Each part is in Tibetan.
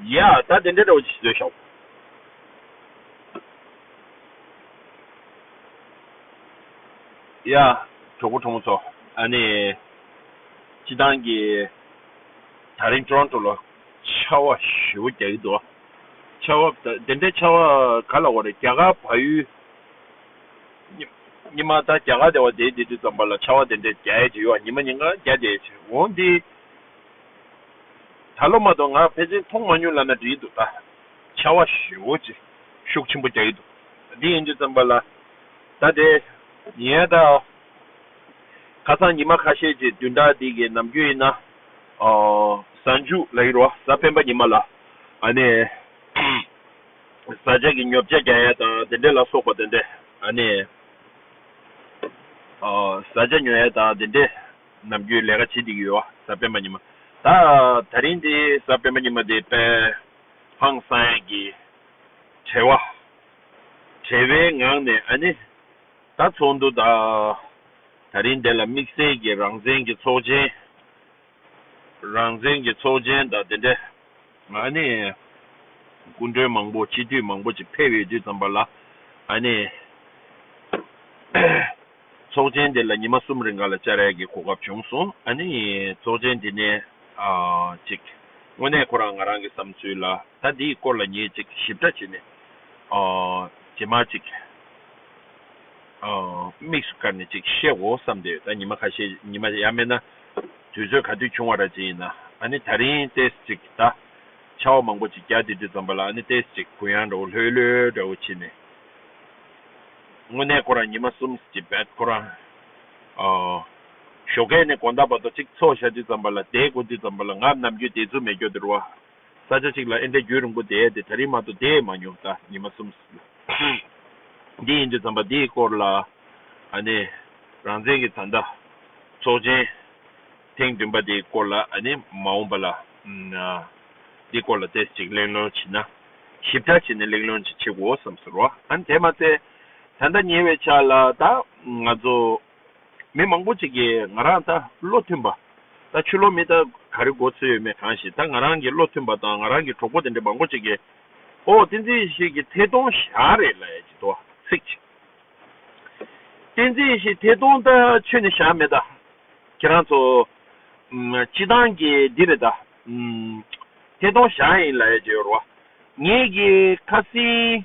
ཡ། ད་དེ་འདྲའི་དྲ་བ་ཅི་ཞིག་བཟོས་ཤོག། ཡ། གྲོགས་པོ་གྲོགས་མོ་ཚོ། ཨ་ནི། སྤྱི་བཏང་གི། ད་རིང་ཏོརོན་ཏོ་ལ། ཆར་བ་ཞེ་བོ་རྒྱག་གི་འདུག། ཆར་བ། ད་དེ་འདྲའི་ཆར་བ་ག་ལ་འོ་རེད། རྒྱ་གར་བ་ཡུལ། ཉི་མ། ད་རྒྱ་གར་དེ་བ་དེའི་དེ་དུས་ཙམ་པ་ལ་ཆར་བ་དེ་འདྲའི་རྒྱ་ཡས་ཀྱི་ཡོད་བ་ཉི་མ་ཉིན་ག་རྒྱ་རྒྱ་ཡས་ཀྱི་འོང་འདི། ད་ལོ་མ་གཏོགས་ང་ཕལ་ཆེར་མཐོང་མ་མྱོང་ལ་ན་བྲིས་འདུག་ད་ཆ་བ་ཞོའོ་ཅེས་ཤུགས་ཆེན་པོ་རྒྱག་གི་འདུག་འདི་ཡིན་རྗེས་བརྩམས་པ་ལ་ད་དེ་ཡིན་ད་ཨོ། ཁ་སང་ཉི་མ་ཁ་ཤས་ཀྱི་དུས་འདའ་དེ་གའི་ནམ་རྒྱུན་ཡིན་ན་ཨོ། གཟའ་མཇུག་ལ་ཡི་རོ་གཟའ་སྤེན་པ་ཉི་མ་ལ་ཨ་ནི་བཟའ་བཅའ་གི་ཉོབ་བྱ་རྒྱག་ཡ་དང་དེ་འདྲས་ལ་སོགས་པ་དེ་འདྲས་ཨ་ནི་ཨོ་བཟའ་བཅའ་ཉོ་ཡ་དང་དེ་འདྲས། ནམ་རྒྱུན་ལས་ཀ་བྱེད་འདི་ཡོད་ཨ་ཟབ་སྤེན་པ་ཉི་མ་ད། ད་རིང་འདི་ཟབ་སྤེན་པ་ཉི་མ་དེ་པད་ཕང་སངས་ཀྱི་བྲེལ་བ། བྲེལ་བའི་ངང་ནས་ཨ་ནི་ད་ཚོགས་འདུ་ད། ད་རིང་འདི་ལ་དམིགས་བསལ་གྱི་རང་བཙན་གྱི་ཚོགས་ཆེན། རང་བཙན་གྱི་ཚོགས་ཆེན་ད་དེ་འདྲ། ཨ་ནི་སྐུ་མགྲོན་མང་པོ་སྤྱི་འཐུས་མང་པོ་ཅིག་ཕེབས་ཡོད་དུས་ཙམ་པ་ལ་ཨ་ནི། ཚོགས་ཆེན་དེ་ལ་ཉི་མ་གསུམ་རིང་ག་ལ་ཅཱ་རའི་གི་གོ་སྐབས་བྱུང་སོང་ཨ་ནི་ཚོགས་ཆེན་དེ་ནས་ཅིག་དངོས་གནས་ཁོ་རང་ང་རང་གི་བསམ་ཚུལ་ལ་ད་འདིའི་སྐོར་ལ་ངས་ཅིག་ཞིབ་ཕྲ་བྱེད་ནས་རྗེས་མ་ཅིག་དམིགས་སུ་བཀར་ནས་ཅིག་བཤད་གོ་བསམ་དེ་ད་ཉི་མ་ཁ་ཤས་ཉི་མ་ཡ་མེད་ན་དུས་ཚོད་ག་དུས་བྱུང་བ་ར་ཅི་ཡིན་ན་ཨ་ནི་ད་རིང་ལྟས་ཅིག་ད་ཆ་བ་མང་པོ་ཅིག་རྒྱ་དེ་དུས་ཙམ་པ་ལ་ཨ་ནི་ལྟས་ཅིག་གུ་ཡངས་འདྲ་བོ་ལྷོད་ལྷོད་འདྲ་བོ་བྱེད་ནས། དངོས་གནས་ཁོ་རང་ཉི་མ་གསུམ་གྱི་བེད་ཁོ་རང་ཞོགས་ཁས་ནས་དགོངས་དག་བར་དོ་གཅིག་འཚོགས་ཞག་གཅིག་ཙམ་པ་ལ་དེའི་གོ་དུས་ཙམ་པ་ལ་ང་ནམ་རྒྱུན་དེ་ཚུལ་མེད་སྐྱོ་དེར་བ། ས་ཆ་གཅིག་ལ་ཨེ་འདྲ་རྒྱུན་རིང་པོ་བསྡད་དེ་ད་རིང་མ་གཏོགས་བསྡད་མ་མྱོང་ད་ཉི་མ་གསུམ་ལ། འདི་ཡིན་དུས་ཙམ་པ་འདིའི་སྐོར་ལ་ཨ་ནེ་རང་བཙན་གྱི་བཟའ་ཟླ་ཚོགས་ཆེན། ཐེངས་བདུན་པ་དེའི་སྐོར་ལ་ནི་མ་འོངས་པ་ལ་དེའི་སྐོར་ལ་ཐེངས་གཅིག་གླེང་སློང་བྱེད་ན། ཞིབ་ཕྲ་བྱས་ནས་གླེང་སློང་བྱེད་ཆེ་གོ་བསམ་ཟེར་བ། ཨང་དེ་མ་ཚད་ད་ལྟ་ཉེ་བའི་ཆ་ལ་ད་ང་ཚོ་མི་མང་པོ་ཅིག་གིས་ང་རང་ད་བློ་མཐུན་པ་ད་ཆུ་ལོག་མི་ད་ག་རེ་འགོ་ཚུད་ཡོད་མེད་གང་ཞིག་ད་ང་རང་གི་བློ་མཐུན་པ་དང་ང་རང་གི་གྲོགས་པོ་དེ་འདྲའི་མང་པོ་ཅིག་གིས་ཨོ་ཏིང་འཛིན་ཞིག་གི་ཐད་གཏོང་བཞག་རེད་ལ་ཡ་ཅི་ཏོ་ཚིག་ཅིག། བསྟན་འཛིན་ཡེ་ཤེས་དེ་སྟོང་ལྟར་ཆོས་ནི་བཞག་མེད། ཁྱེད་རང་ཚོ། སྤྱི་བཏང་གི་འདི་རེད། དེ་སྟོང་བཞག་ཡིན་ལ་ཡ་ཇོ་རོ། ངེད་ཀྱི་ཁ་སིང།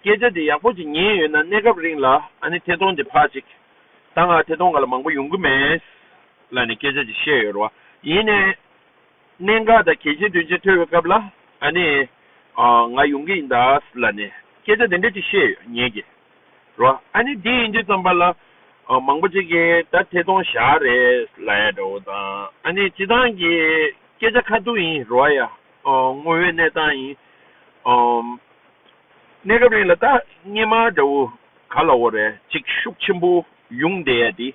སྐད་ཆ་དེ་ཡག་པོ་ཅིག་ཉན་ཡོད་ན་གནས་སྐབས་རིང་ལ་ཨ་ནི་དེ་སྟོང་དེ་ཕག་ཅིག། ད་ང་དེ་སྟོང་ག་ལ་མང་པོ་ཡོང་གི་མེད། ལ་ནི་སྐད་ཆ་ཅིག་བཤད་ཡོད་རོ། ཡིན་ནས། གནད་འགག་དང་གལ་ཆེན་དོན་ཆེན་ཐོས་པའི་སྐབས་ལ་ཨ་ནི། ང་ཡོང་གི་ཡིན་ད་ལ་ནས་སྐད་ཆ་དེ་འདྲ་ཅིག་བཤད་ཡོད་ཉེས་ཀྱི་རོ་ཨ་ནི་དེ་ཡིན་དུས་ཙམ་པ་ལ་མང་པོ་ཅིག་གིས་ད་ཐེ་ཐོང་བཞག་རེད་ལ་ཡ་འདྲ་བོ་དང་ཨ་ནི་སྤྱི་བཏང་གི་སྐད་ཆ་ཁ་ཐུག་ཡིན་རོ་ཨ་ཡ་དངོས་ཡོད་གནས་སྟངས་ཡིན་གནས་སྐབས་རིང་ལ་ད་སྙན་མ་འདྲ་བོ་ག་ལ་འོ་རེད་ཅིག་ཤུགས་ཆེན་པོ་ཡོང་བསྡད་ཡ་དེ།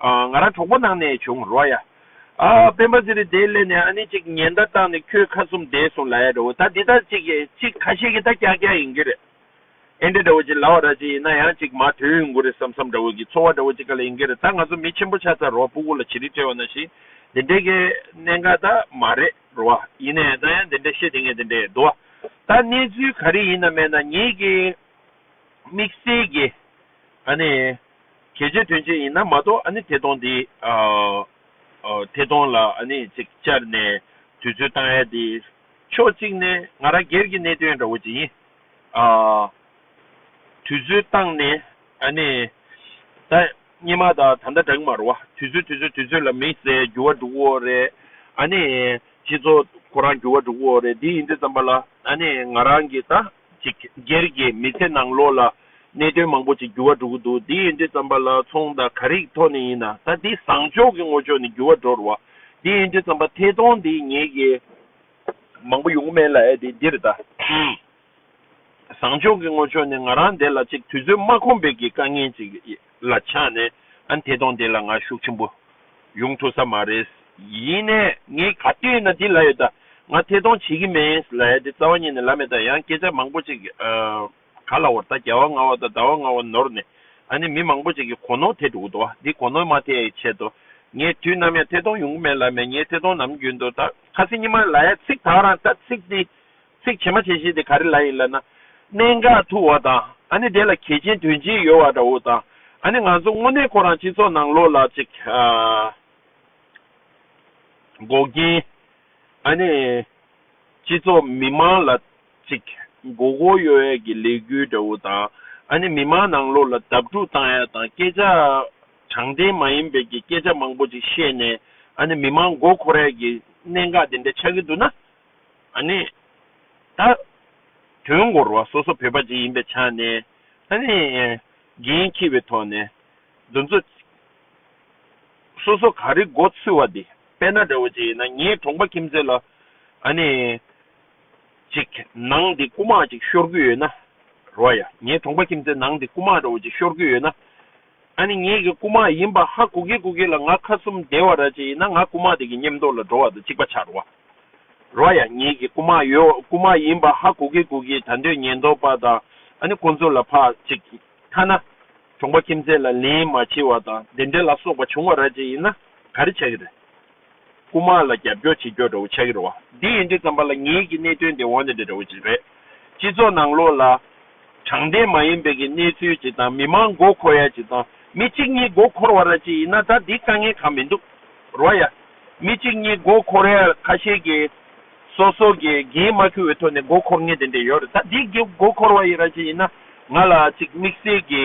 ང་རང་གྲོགས་པོ་ནང་ནས་བྱུང་རོ་ཡ། སྤེན་པ་ཟེར་རི་དེའི་སླད་ནས་ཨ་ནི་ཅིག་ཉེན་བརྡ་བཏང་ནས་ཁྱོད་ཁ་གསུམ་བསྡད་སོང་ལ་ཡ་འདྲ་བོ་ད་འདི་ལྟར་ཅིག་ཅིག་ཁ་ཤས་ཀྱི་ད་སྐྱག་སྐྱག་ཡིན་གྱི་རེད། ཨེ་འདྲ་འདྲ་བོ་ཅིག་ལ་བ་ར་ཅིག་ཡིན་ན་ཡང་ཅིག་མ་དོན་ཡོང་གི་རེད་བསམ་བསམ་འདྲ་བོ་གྱི་འཚོ་བ་འདྲ་བོ་ཅིག་ག་ལ་ཡིན་གྱི་རེད་ད་ང་ཚོ་མི་ཆེན་པོ་ཆགས་ཚར་རོ་སྤུ་གུ་ལ་བྱི་རིལ་སྤྲེལ་བ་ན་ཞིག་འདི་འདྲའི་གི་གནད་འགག་ད་མ་རེད་རོ་ཨ་ཡིན་ནའི་ད་ཡང་འདི་འདྲ་བཤད་དེ་ངས་འདི་འདྲའི་དོ་ཨ་ད་གནས་ཚུལ་ག་རེ་ཡིན་ན་མེད་ན་ཉིད་ཀྱི་དམིགས་བསལ་གྱི་ཨ་ནི། གལ་ཆེ་དོན་ཆེ་ཡིན་ན་མ་གཏོགས་ཨ་ནི་དེ་སྟོང་དེ། དེ་སྟོང་ལ་ཨ་ནི་ཅིག་བཅར་ནས་དུས་ཚོད་བཏང་ཡ་དེ། ཕྱོགས་གཅིག་ནས་ང་རང་སྒེར་གྱི་གནད་དོན་འདྲ་བོ་ཅིག་ཡིན། དུས་ཚོད་བཏང་ནས་ཨ་ནི། ད་སྙེ་མ་ད་ད་ལྟ་བྲག་མ་རུ་བ་དུས་ཚོད་དུས་ཚོད་དུས་ཚོད་ལ་མི་ཟེར་འགྱུར་བ་འགྲོ་འོ་རེད། ཨ་ནི། སྤྱི་ཚོགས་ཁོ་རང་འགྱུར་བ་འགྲོ་འོ་རེད་དེ་ཡིན་དུས་ཙམ་པ་ལ་ཨ་ནི་ང་རང་གིས་ད། ཅིག། སྒེར་གྱི་མི་ཚེ་ནང་ལོགས་ལ་གནད་དོན་མང་པོ་ཅིག་འགྱུར་བ་འགྲོ་གི་འདུག་དེ་ཡིན་དུས་རྩམ་པ་ལ་ཚོང་དང་ག་རིགས་ཐོག་ནས་ཡིན་ན་ད་དེ་བཟང་ཕྱོགས་ཀྱི་ངོ་ཅོག་ནས་འགྱུར་བ་འགྲོ་རུ་བ། དེ་ཡིན་དུས་རྩམ་པ་ཐད་གཏོང་འདི་ངེད་ཀྱི་མང་པོ་ཡོང་གི་མེད་ལ་ཨེ་དེ་འདིར་ད་བཟང་ཕྱོགས་ཀྱི་ངོ་ཅོག་ནས་ང་རང་འདས་ལ་ཅིག་དུས་ཚོད་མ་ཁོམ་པའི་གི་དཀའ་ངལ་ཅིག་ཡེད། ལ་ཆགས་ནས་ཨ་འཐས་དོང་དེ་ལ་ང་ཤུགས་ཆེན་པོ་ཡོང་ཐུབ་ས་མ་རེད། ཡིན་ནས་ངས་ག་དུས་ན་དེ་ལ་ཡོད་ད་ང་འཐས་དོང་བྱེད་ཀྱི་མེད་ལ་ཡ་དེ་རྩ་བ་ཉིད་ནས་ལ་མེད་ད་ཡང་སྐད་ཆ་མང་པོ་ཅིག་ག་ལ་བོར་ད་རྒྱ་བ་ང་བ་ད་ད་བ་ང་བ་ནོར་ནས་ཨ་ནི་མི་མང་པོ་ཅིག་གི་གོ་ནོར་འཐས་འགྲོ་གི་འདུག་དེ་གོ་ནོར་མ་འཐས་ཆེད་དུ་ངས་དུས་ནམ་ཡང་འཐས་དོང་ཡོང་གི་མེད་ལ་མེད་ངས་འཐས་དོང་ནམ་རྒྱུན་དུ་ད་ཁ་སེ་ཉི་མ་ལ་ཡ་ཚིག་དག་རང་ད་ཚིག་དེ་ཚིག་བྱེ་མ་བྱེ་ཞེས་དེ་ག་རེ་ལ་ཡིན་ལབ་ན། གནད་འགག་ཐུག་བ་དང་ཨ་ནི་དེ་ལ་གལ་ཆེན་དོན་ཆེན་ཡོད་བ་འདྲ་བོ་དང་ཨ་ནི་ང་ཚོ་དངོས་གནས་ཁོ་རང་སྤྱི་ཚོགས་ནང་ལོག་ལ་ཅིག་འགོག་རྐྱེན་ཨ་ནི་སྤྱི་ཚོགས་མི་མང་ལ་ཅིག་འགོག་གོ་ཡོད་ཡ་གི་ལས་འགུལ་འདྲ་བོ་དང་ཨ་ནི་མི་མང་ནང་ལོག་ལ་དབབ་འཁྲུག་བཏང་ཡ་དང་སྐད་ཆ་དྲང་བདེན་མ་ཡིན་པའི་གི་སྐད་ཆ་མང་པོ་ཅིག་བཤད་ནས་ཨ་ནི་མི་མང་འགོག་ཁོ་ར་ཡ་གི་གནད་འགག་དེ་འདྲ་ཆགས་གི་འདུག་ན། ཨ་ནི། ད། དོན་གོ་རུ་བ་སོ་སོ་བོད་པ་ཅིག་ཡིན་པའི་ཆ་ནས། ཨ་ནི། འགན་འཁྱི་བའི་ཐོག་ནས། འདུ་འཛོ། སོ་སོ་ག་རི་མགོ་ཚུད་བ་དེ་དཔལ་ན་འདྲ་བོ་ཅིག་ཡིན་ན་ངའི་གྲོང་པ་ཁྱིམ་མཚེས་ལ། ཨ་ནི། ཅིག་ནང་དེ་རྐུ་མ་ཅིག་ཤོར་གི་ཡོད་ན། རུ་བ་ཡ། ངའི་གྲོང་པ་ཁྱིམ་མཚེས་ནང་དེ་རྐུ་མ་འདྲ་བོ་ཅིག་ཤོར་གི་ཡོད་ན། ད་ནི་ངེད་ཀྱི་རྐུན་མ་ཡིན་པ་ཧ་གོ་གི་གོ་གི་ལ་ང་ཁ་གསུམ་བདེ་བ་ར་ཅན་ཡིན་ན་ང་རྐུན་མ་དེ་གི་སྙེམས་རྟོག་ལ་འགྲོ་བ་དང་གཅིག་པ་ཆགས་རོ། རོ་ཡ་ངེད་ཀྱི་རྐུན་མ་ཡོད་རྐུན་མ་ཡིན་པ་ཧ་གོ་གི་གོ་གི་ད་འདོད་ཉེན་རྟོག་པ་དང་ཨ་ནི་ཀོང་ཙོ་ལ་ཕ་ཅིག་གིས་ཐ་ན་གྲོང་པ་ཁྱིམ་མཚེས་ལ་ལན་མ་བྱེད་བ་དང་བདེན་བྲལ་ལ་སོགས་པ་བྱུང་བ་ར་ཅན་ཡིན་ན་ག་རེ་བྱ་གི་རེད། རྐུ་དམག་ལ་རྒྱབ་སྐྱོར་བྱེད་རྒྱུར་འགྲོ་འོང་ཆགས་ཀྱི་རེད། འདི་ཡིན་དུས་བརྩམས་པ་ལ་ངེད་ཀྱིས་གནད་དོན་འདི་འོག་ནས་འདྲི་འདྲ་བོ་ཅིག་རེད། སྤྱི་ཚོགས་ནང་ལོགས་ལ། དྲང་བདེན་མ་ཡིན་པའི་གི་གནས་ཚུལ་ཅིག་དང་མི་མང་མགོ་འཁོར་ཡ་ཅིག་དང་མི་གཅིག་གཉིས་མགོ་འཁོར་བ་ར་ཅིག་ཡིན་ན་ད་འདི་དཀའ་ངལ་གང་མི་འདུག་རོ་ཡ། མི་གཅིག་གཉིས་མགོ་འཁོར་ཡ་ཁ་ཤས་ཀྱིས་སོ་སོ་གི་གིས་མ་ཁུ་འོས་ཐོག་ནས་མགོ་འཁོར་ངེས་དེ་འདྲ་ཡོད་རེད་ད་འདི་གི་མགོ་འཁོར་བ་ཡི་ར་ཅིག་ཡིན་ན་ང་ལ་ཅིག་དམིགས་བསལ་གི་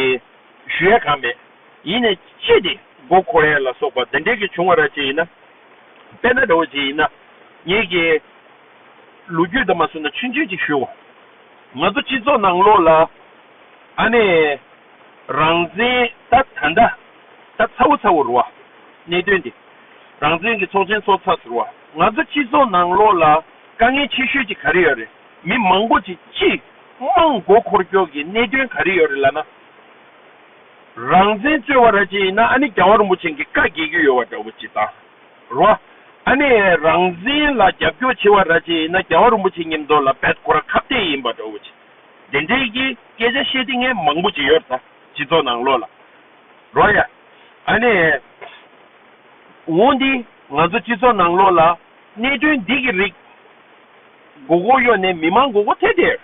ཞུ་ཡ་གང་མེད། ཡིན་ནས་ཅི་སྟེ་མགོ་འཁོར་ཡས་ལ་སོགས་པ་འདི་འདྲས་ཀྱི་བྱུང་བ་ར་ཅི་ཡིན་ན། དཔེར་ན་འདྲ་བོ་ཅི་ཡིན་ན། ངེད་ཀྱིས་ལོ་རྒྱུས་དང་མ་བསྲུན་ན་ཆུ་འཛིན་ཅིག་ཞུའོ། ང་ཚོ་སྤྱི་ཚོགས་ནང་ལོགས་ལ། ཨ་ནེ། རང་བཙན་ད་ད་ད་ད་ཚ་བོ་ཚ་བོ་རུ་བ། གནད་དོན་འདི། རང་བཙན་གྱི་ཚོགས་ཆེན་ཚོགས་ཚར་ཚུར་བ། ང་ཚོ་སྤྱི་ཚོགས་ནང་ལོགས་ལ་དཀའ་ངལ་ཆེ་ཤོས་ཅིག་ག་རེ་ཡོད་རེད་མི་མང་པོ་ཅིག་སྤྱི་དམངས་མགོ་འཁོར་སྐྱོག་གི་གནད་དོན་ག་རེ་ཡོད་རེད་ལ་ན། རང་བཙན་རྩོད་བ་ར་ཅི་ཡིན་ན་ཨ་ནི་རྒྱ་བ་རིན་པོ་ཆེན་གི་བཀའ་རྒྱས་རྒྱུ་ཡོད་བ་འདྲ་བོ་ཅི་ད་རོ། ཨ་ནི་རང་བཙན་ལ་རྒྱབ་སྐྱོར་བྱེད་བ་ར་ཅི་ཡིན་ན་རྒྱ་བ་རིན་པོ་ཆེན་ཉིམ་དོ་ལ་བད་ཁོ་ར་ཁ་བཏད་ཡིན་བ་འདྲ་བོ་ཅི། དེ་འདྲའི་གི་སྐད་ཆ་བཤད་དེ་ངས་མང་པོ་ཅི་ཡོད་ད་སྤྱི་ཚོགས་ནང་ལོག་ལ་རོ་ཡ། ཨ་ནི་འོང་དེ་ང་ཚོ་སྤྱི་ཚོགས་ནང་ལོག་ལ་གནད་དོན་འདི་གི་རིགས་མགོ་གོ་གཡོ་ནས་མི་མང་མགོ་གོ་ཐད་དེར།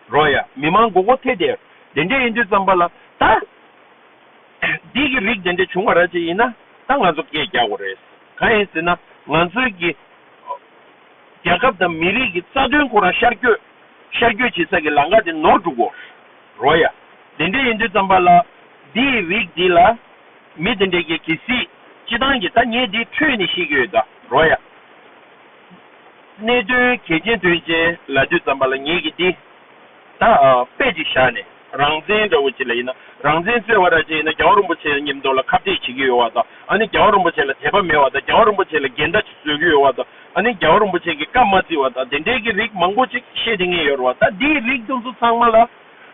རོགས་ཡ། མི་མང་མགོ་སྐོར་ཐད་དེར། དེ་འདྲས་ཡིན་དུས་བརྩམས་པ་ལ། ད། འདི་གི་རིགས་དེ་འདྲས་བྱུང་བ་ར་ཅིག་ཡིན་ན། ད་ང་ཚོ་སྐད་རྒྱག་དགོས་རེད། གང་ཡིན་ཟེར་ན། ང་ཚོའི་གི། རྒྱལ་ཁབ་དང་མི་རིགས་ཀྱི་རྩ་དོན་ཁོ་རང་ཤར་བསྐྱོད། ཤར་བསྐྱོད་བྱེད་ས་ཀྱི་ལང་ཀ་དེ་ནོར་འགྲོ་དགོས། རོགས་ཡ། དེ་འདྲས་ཡིན་དུས་བརྩམས་པ་ལ། འདི་ཡི་རིགས་འདི་ལ། མི་དེ་འདྲས་ཀྱིས་གི་སྲིད། སྤྱི་བཏང་གི་ད་ངས་འདི་འཕྲོས་ནས་ཤེས་ཀྱི་ཡོད་ད། རོགས་ཡ། གནད་དོན་གལ་ཆེན་དོན་ཆེན་ལ་དུས་འཛམ་པ་ལ་ངེད་ཀྱིས་འདི་ད་པད་ཅིག་བཞག་ནས་རང་བཙན་འདྲ་བོ་ཅི་ལ་ཡིན་ན་རང་བཙན་རྩོད་བ་ར་ཅན་ཡིན་ན་རྒྱ་བ་རོན་པོ་ཆེ་ཉིམ་མདོག་ལ་ཁ་བརྡས་བྱེད་ཀྱི་ཡོད་བ་དང་ཨ་ནི་རྒྱ་བ་རོན་པོ་ཆེ་ལ་དད་པ་མེད་བ་དང་རྒྱ་བ་རོན་པོ་ཆེ་ལ་འགལ་ཟླ་བཟོས་ཀྱི་ཡོད་བ་དང་ཨ་ནི་རྒྱ་བ་རོན་པོ་ཆེ་གི་བཀའ་མ་བརྩི་བ་དང་དེ་འདྲའི་གི་རིགས་མང་པོ་ཅིག་བཤད་དེ་ངེས་ཡོད་བ་ད་འདི་རིགས་དུ་ཚོ་ཚང་མ་ལ་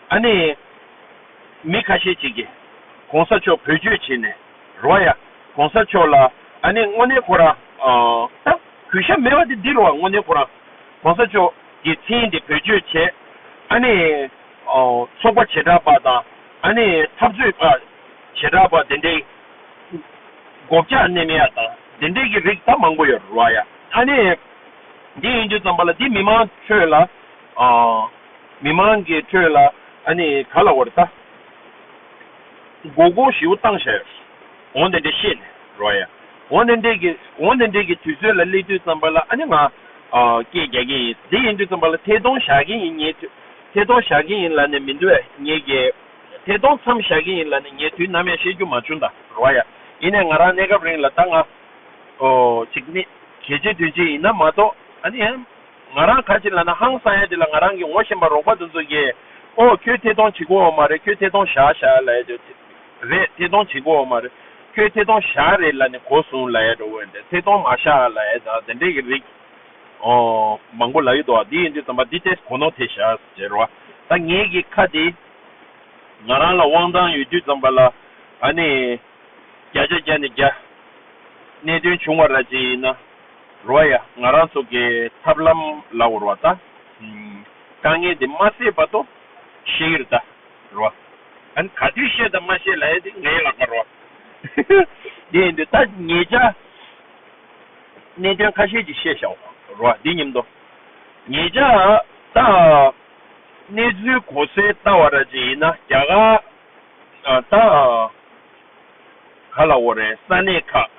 ཨ་ནི་མི་ཁ་ཤས་ཅིག་གིས་གོང་ས་མཆོག་བོད་གཅོད་བྱེད་ནས། རོ་ཡ། གོང་ས་མཆོག་ལ། ཨ་ནེ་སྔོ་ནེ་ཁོ་རང། ཨ། གུས་ཞབས་མེད་པ་དེ་འདི་རུ་བ་སྔོ་ནེ་ཁོ་རང། གོང་ས་མཆོག། གི་ཚིག་འདི་བེད་སྤྱོད་བྱས། ཨ་ནེ། ཚོགས་པ་བྱེ་བྲག་པ་དང། ཨ་ནེ། འཐབ་རྩོད་པ། བྱེ་བྲག་པ་དེ་འདྲའི། སྒོ་བརྒྱག་གནས་མེད་ཡ་དང། དེ་འདྲའི་གི་རིགས་ད་མང་པོ་ཡོད་རོ་ཡ། ཨ་ནེ། འདི་ཡིན་དུས་ཙམ་པ་ལ་འདི་མི་མང་ཁྲོད་ལ། མི་མང་གི་ཁྲོད་ལ། ཨ་ནེ་ག་ལ་བར་ད། མགོ་སྐོར་བཞི་བོ་བཏང་བྱ་ཡོད། འོང་དེ་འདྲས་བཤད་ནས་རོ་ཡ། འོང་དེ་འདྲས་ཀྱི། འོང་དེ་འདྲས་ཀྱི་དུས་ཚོད་ལ་སླེབས་དུས་ཙམ་པ་ལ་ཨ་ནི་ང། སྐད་རྒྱག་གིན་ཡིན། དེ་ཡིན་དུས་ཙམ་པ་ལ་ཐད་གཏོང་བྱ་གིན་ཡིན་ཉལ་དུས། ཐད་གཏོང་བྱ་གིན་ཡིན་ལ་ནི་མི་འདུག་ཨེ་ཉལ་གི། ཐད་གཏོང་མཚམས་བྱ་གིན་ཡིན་ལ་ནི་ཉལ་དུས་ནམ་ཡང་བཤད་རྒྱུ་མ་བྱུང་ད་རོ་ཡ། ཡིན་ནས་ང་རང་གནས་སྐབས་རིང་ལ་ད་ང། ཨོ། ཅིག་ནི། གལ་ཆེ་དོན་ཆེ་ཡིན་ན་མ་གཏོགས་ཨ་ནི་ཨེ། ང་རང་ག་ཅི་ལ་ན་ཧང་སངས་ཡ་དེ་ལ་ང་རང་གི་ངོ་ཤེས་པ་རོགས་པ་དུ་འཛོ་ཀྱེ། ཨོ་ཁྱོད་ཐེ་ཐོང་བྱེད་གོ་འོ་མ་རེད་ཁྱོད་ཐེ་ཐོང་བཞག་བཞག་ལ་ཡ་དྲོ་ཐེ། རེད་ཐེ་ཐོང་བྱེད་གོ་འོ་མ་རེད་ཁྱོད་ཐེ་ཐོང་བཞག་རེད་ལ་ནི་གོ་སོང་ལ་ཡ་དྲོ་འོན་ཏེ་ཐེ་ཐོང་མ་བཞག་ལ་ཡ་ད་དེ་འདྲས་ཀྱི་རིགས། ཨོ། མང་པོ་ལ་ཡོད་དོ་དེ་ཡིན་དུས་དམ་པ་འདི་ཏེས་གོ་ནོ་ཐེ་བཞག་ཟེར་རོ་ད་ངེད་ཀྱི་ཁ་དེ། ང་རང་ལ་དབང་ཐང་ཡོད་དུས་དམ་པ་ལ་ཨ་ནི། བརྒྱ་ཆ་བརྒྱ་ནི་བརྒྱ། གནད་དོན་བྱུང་བ་ར་ཅི་ཡིན་ན། རུ་བ་ཡ། ང་རང་ཚོ་གའི་ཐབས་ལམ་ལ་འོར་བ་ད། དཀའ་ངལ་དེ་མ་སེལ་བར་དུ་ཤེས་ཡུལ་ད་རུ་བ། ཨན་ག་དུས་ཤེས་དང་མ་ཤེས་ལ་ཡ་དེ་ངའི་ལག་པ་རུ་བ། དེ་ཡིན་དུས་ད་ངེད་ཅག་གནད་དོན་ཁ་ཤས་ཅིག་ཤེས་ཤག་རུ་བ་དེ་ཉིན་དུ། ངེད་ཅག་ད་གནས་ཚུལ་གོ་སའི་ད་བ་ར་ཅིག་ཡིན་ན་རྒྱ་གར་ད་ག་ལ་འོར་རེད་ས་གནས་ཁག།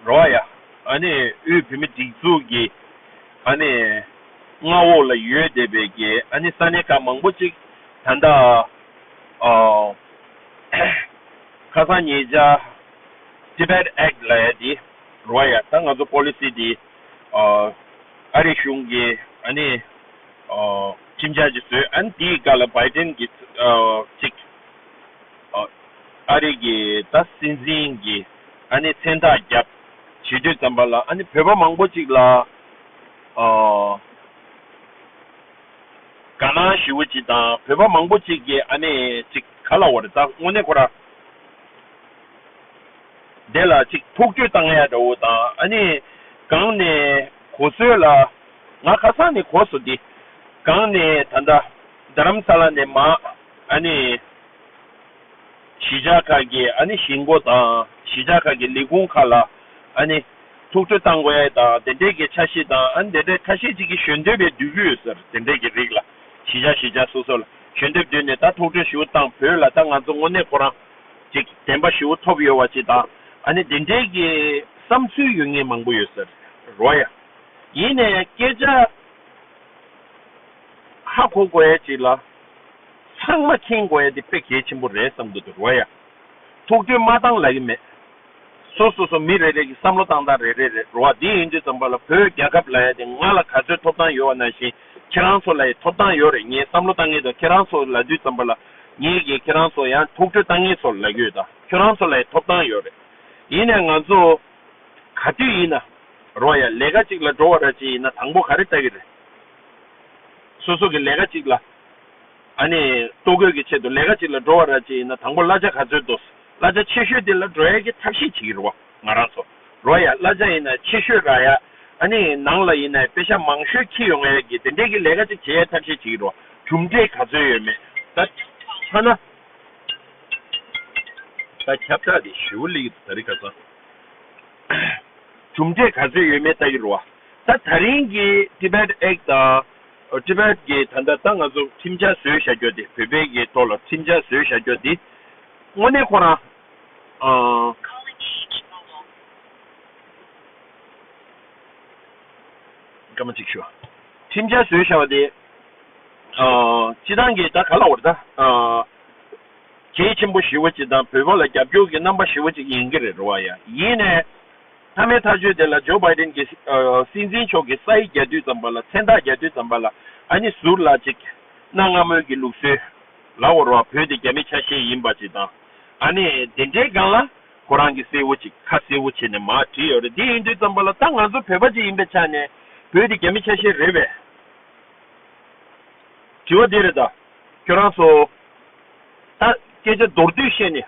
རོ་ཨ་ཡ། ཨ་ནི་ཨུའི་བུད་མེད་སྒྲིག་འཛུགས་ཀྱི་ཨ་ནི་མངའ་འོག་ལ་ཡོད་བསྡད་པའི་ཀྱི་ཨ་ནི་ས་གནས་ཁག་མང་པོ་ཅིག་ད་ལྟ་ཁ་སང་ཉེ་ཆར Tibet Act ལ་ཡ་དེ་རོ་ཨ་ཡ་ད་ང་ཚོ Policy དེ་ཨ་རི་གཞུང་གི་ཨ་ནི་ཁྲིམས་འཆར་ཅིག་བཟོས་ཨ་ནི་དེའི་སྒ་ལ Biden གི་ཅིག་ཨ་རི་གི་ད་སྲིད་འཛིན་གྱི། ཨ་ནི་མཚན་རྟགས་བརྒྱབ། བྱིས་དུས་ཙམ་པ་ལ་ཨ་ནི་བོད་པ་མང་པོ་ཅིག་ལ། དགའ་སྣང་ཞི་བོ་ཅིག་དང་བོད་པ་མང་པོ་ཅིག་གིས་ཨ་ནི་ཅིག་ག་ལ་བར་བལྟ་དངོས་གནས་ཁོ་ར་འདས་ལ་ཅིག་ཐུགས་བསྐྱོད་བཏང་ཡ་འདྲ་བོ་དང་ཨ་ནི་གང་ནས་གོ་སོད་ལ་ང་ཁ་སང་ནས་གོ་སོ་འདི་གང་ནས་ད་ལྟ་རྡ་རམ་ས་ལ་ནས་མ་ཨ་ནི། གཞིས་ཆགས་ཁག་གི་ཨ་ནི་གཞིས་མགོ་དང་གཞིས་ཆགས་ཁག་གི་ལས་ཁུངས་ཁག་ལ་ཨ་ནི་ཐུགས་ཁྲོ་བཏང་དགོས་ཨེ་དང་དེ་འབྲེལ་གྱི་ཆ་ཤས་དང་ཨ་ནི་དེ་འབྲེལ་ཁ་ཤས་ཅིག་གིས་གཞོན་དོད་པའི་འདོད་གུ་ཡོད་ཟེར་དེ་འབྲེལ་གྱི་རིགས་ལ་གཞིས་ཆགས་གཞིས་ཆགས་སོ་སོ་ལ་གཞོན་དོད་བསྡུས་ནས་ད་ཐུགས་ཁྲོ་ཞི་བོ་བཏང་བོད་ལ་ད་ང་ཚོ་དངོས་གནས་ཁོ་རང་ཅིག་བདེན་པ་ཞི་བོ་ཐོབ་ཡོད་བ་ཅིག་དང་ཨ་ནི་དེ་འབྲེལ་གྱི་བསམ་ཚུལ་ཡོད་ངེས་མང་པོ་ཡོད་ཟེར་རོ་ཡ། ཡིན་ནས་སྐད་ཆ་ཧ་གོ་དགོས་ཡ་ཅིག་ལ། ཚང་མ་མཁྱེན་དགོས་ཡ་འདི་དཔེ་གལ་ཆེན་པོ་རེད་བསམ་གི་འདུག་རོ་ཡ། ཐུགས་འདུན་མ་བཏང་ལ་ཡི་མེད། སོ་སོ་སོ་མི་རེ་རེ་གི་བསམ་བློ་བཏང་སྟངས་རེ་རེ་རེད་རོ་ཨ་འདི་ཡིན་དུས་ཙམ་པ་ལ་བོད་རྒྱ་ཁབ་ལ་ཡ་འདི་ང་ལ་ག་ཚོད་ཐོབ་ཐང་ཡོད་བ་ན་བཞིན་ཁྱེད་རང་ཚོ་ལ་ཡི་ཐོབ་ཐང་ཡོད་རེད་ངས་བསམ་བློ་བཏང་ངེས་དང་ཁྱེད་རང་ཚོ་ལ་འདུས་ཙམ་པ་ལ་ངས་གིས་ཁྱེད་རང་ཚོ་ཡ་ཐུགས་ཁྲོས་བཏང་ངེས་ཚོ་ལ་ཡོད་དང་ཁྱོད་རང་ཚོ་ལ་ཡི་ཐོབ་ཐང་ཡོད་རེད་ཡིན་ནས་ང་ཚོ་ག་དུས་ཡིན་ན་རོ་ཡ་ལས་ཀ་ཅིག་ལ་འགྲོ་བ་ར་ཅི་ཡིན་ན་དང་པོ་ག་རེ་ལྟ་གི་རེད་སོ་སོ་གི་ལས་ཀ་ཅིག་ལ། ཨ་ནི། ལྟོ་གོས་ཀྱི་ཆེད་དུ་ལས་ཀ་ཅིག་ལ་འགྲོ་བ་ར་ཅི་ཡིན་ན་དང་པོ་གླ་ཆ་ག་ཚོད་འདུག་གླ་ཆ་ཆེ་ཤོས་དེ་ལ་འགྲོ་ཡ་གི་ཐབས་ཤེས་བྱེད་ཀྱི་རུ་བ་ང་རང་ཚོ་རོ་ཡ་གླ་ཆ་ཡིན་ན་ཆེ་ཤོས་ར་ཡ་ཨ་ནི་ནང་ལ་ཡིན་ན་དཔེ་ཤ་མང་ཤོས་ཁྱི་ཡོང་ཡ་གི་དེ་འདྲས་གི་ལས་ཀ་ཅིག་བྱེད་ཡ་ཐབས་ཤེས་བྱེད་ཀྱི་རུ་བ་གྲུབ་འབྲས་ག་ཚོད་ཡོད་མེད་ད་ཐ་ན། ད་ཁྱབ་བསྒྲགས་དེ་ཞེའུ་ལི་ཡི་དུ་ད་རི་ག་ཚ། གྲུབ་འབྲས་ག་ཚོད་ཡོད་མེད་ལྟ་ཀྱི་རུ་བ། ད་ད་རིང་གི Tibet Act དང Tibet གི་ད་ལྟ་ད་ང་ཚོ་ཁྲིམས་འཆར་བཟོས་བཞག་རྒྱུ་དེ་བོད་པའི་གི་ཐོག་ལ་ཁྲིམས་འཆར་བཟོས་བཞག་རྒྱུ་དེ་དངོས་གནས་ཁོ་རང་ཨ། སྐར་མ་གཅིག་ཞུ། ཁྲིམས་འཆར་བཟོས་བཞག་པ་དེ་ཨ་སྤྱི་བཏང་གི་ད་ག་ལ་འོར་ད་ཨ་གལ་ཆེན་པོ་ཞི་བོ་ཅིག་དང་བོད་པ་ལ་རྒྱབ་སྐྱོར་གི་རྣམ་པ་ཞི་བོ་ཅིག་ཡིན་གི་རེད་རོ་ཨ་ཡ་ཡིན་ནས། མཐའ་མའི་ཐག་གཅོད་དེ་ལ་ཇོ་བྷའི་ཏེན་གྱིས་སྲིད་འཛིན་མཆོག་གི་ས་ཡིག་རྒྱ་མདུད་ཙམ་པ་ལ་མཚན་རྟགས་རྒྱ་མདུད་ཙམ་པ་ལ་ཨ་ནི་ཟུར་ལ་ཅིག། གནའ་སྔ་མོའི་གི་ལུགས་སྲོལ་ལ་བོར་བ་བོད་དེ་རྒྱ་མི་ཆ་ཤས་ཡིན་པ་ཅིག་དང། ཨ་ནི་དེ་འདྲའི་སྒང་ལ་ཁོ་རང་གི་སྲས་བོ་ཅིག་ཁ་སྲས་བོ་བྱས་ནས་མ་བྲིས་ཡོད་རེད་དེ་ཡིན་དུས་ཙམ་པ་ལ་ད་ང་ཚོ་བོད་པ་ཅིག་ཡིན་པའི་ཆ་ནས་བོད་དེ་རྒྱ་མི་ཆ་ཤས་རེད་བས། དྲི་བ་འདི་རེད་ད། ཁྱོད་རང་ཚོ། ད་སྐད་ཆ་མདོར་བསྡུས་བཤད་ནས།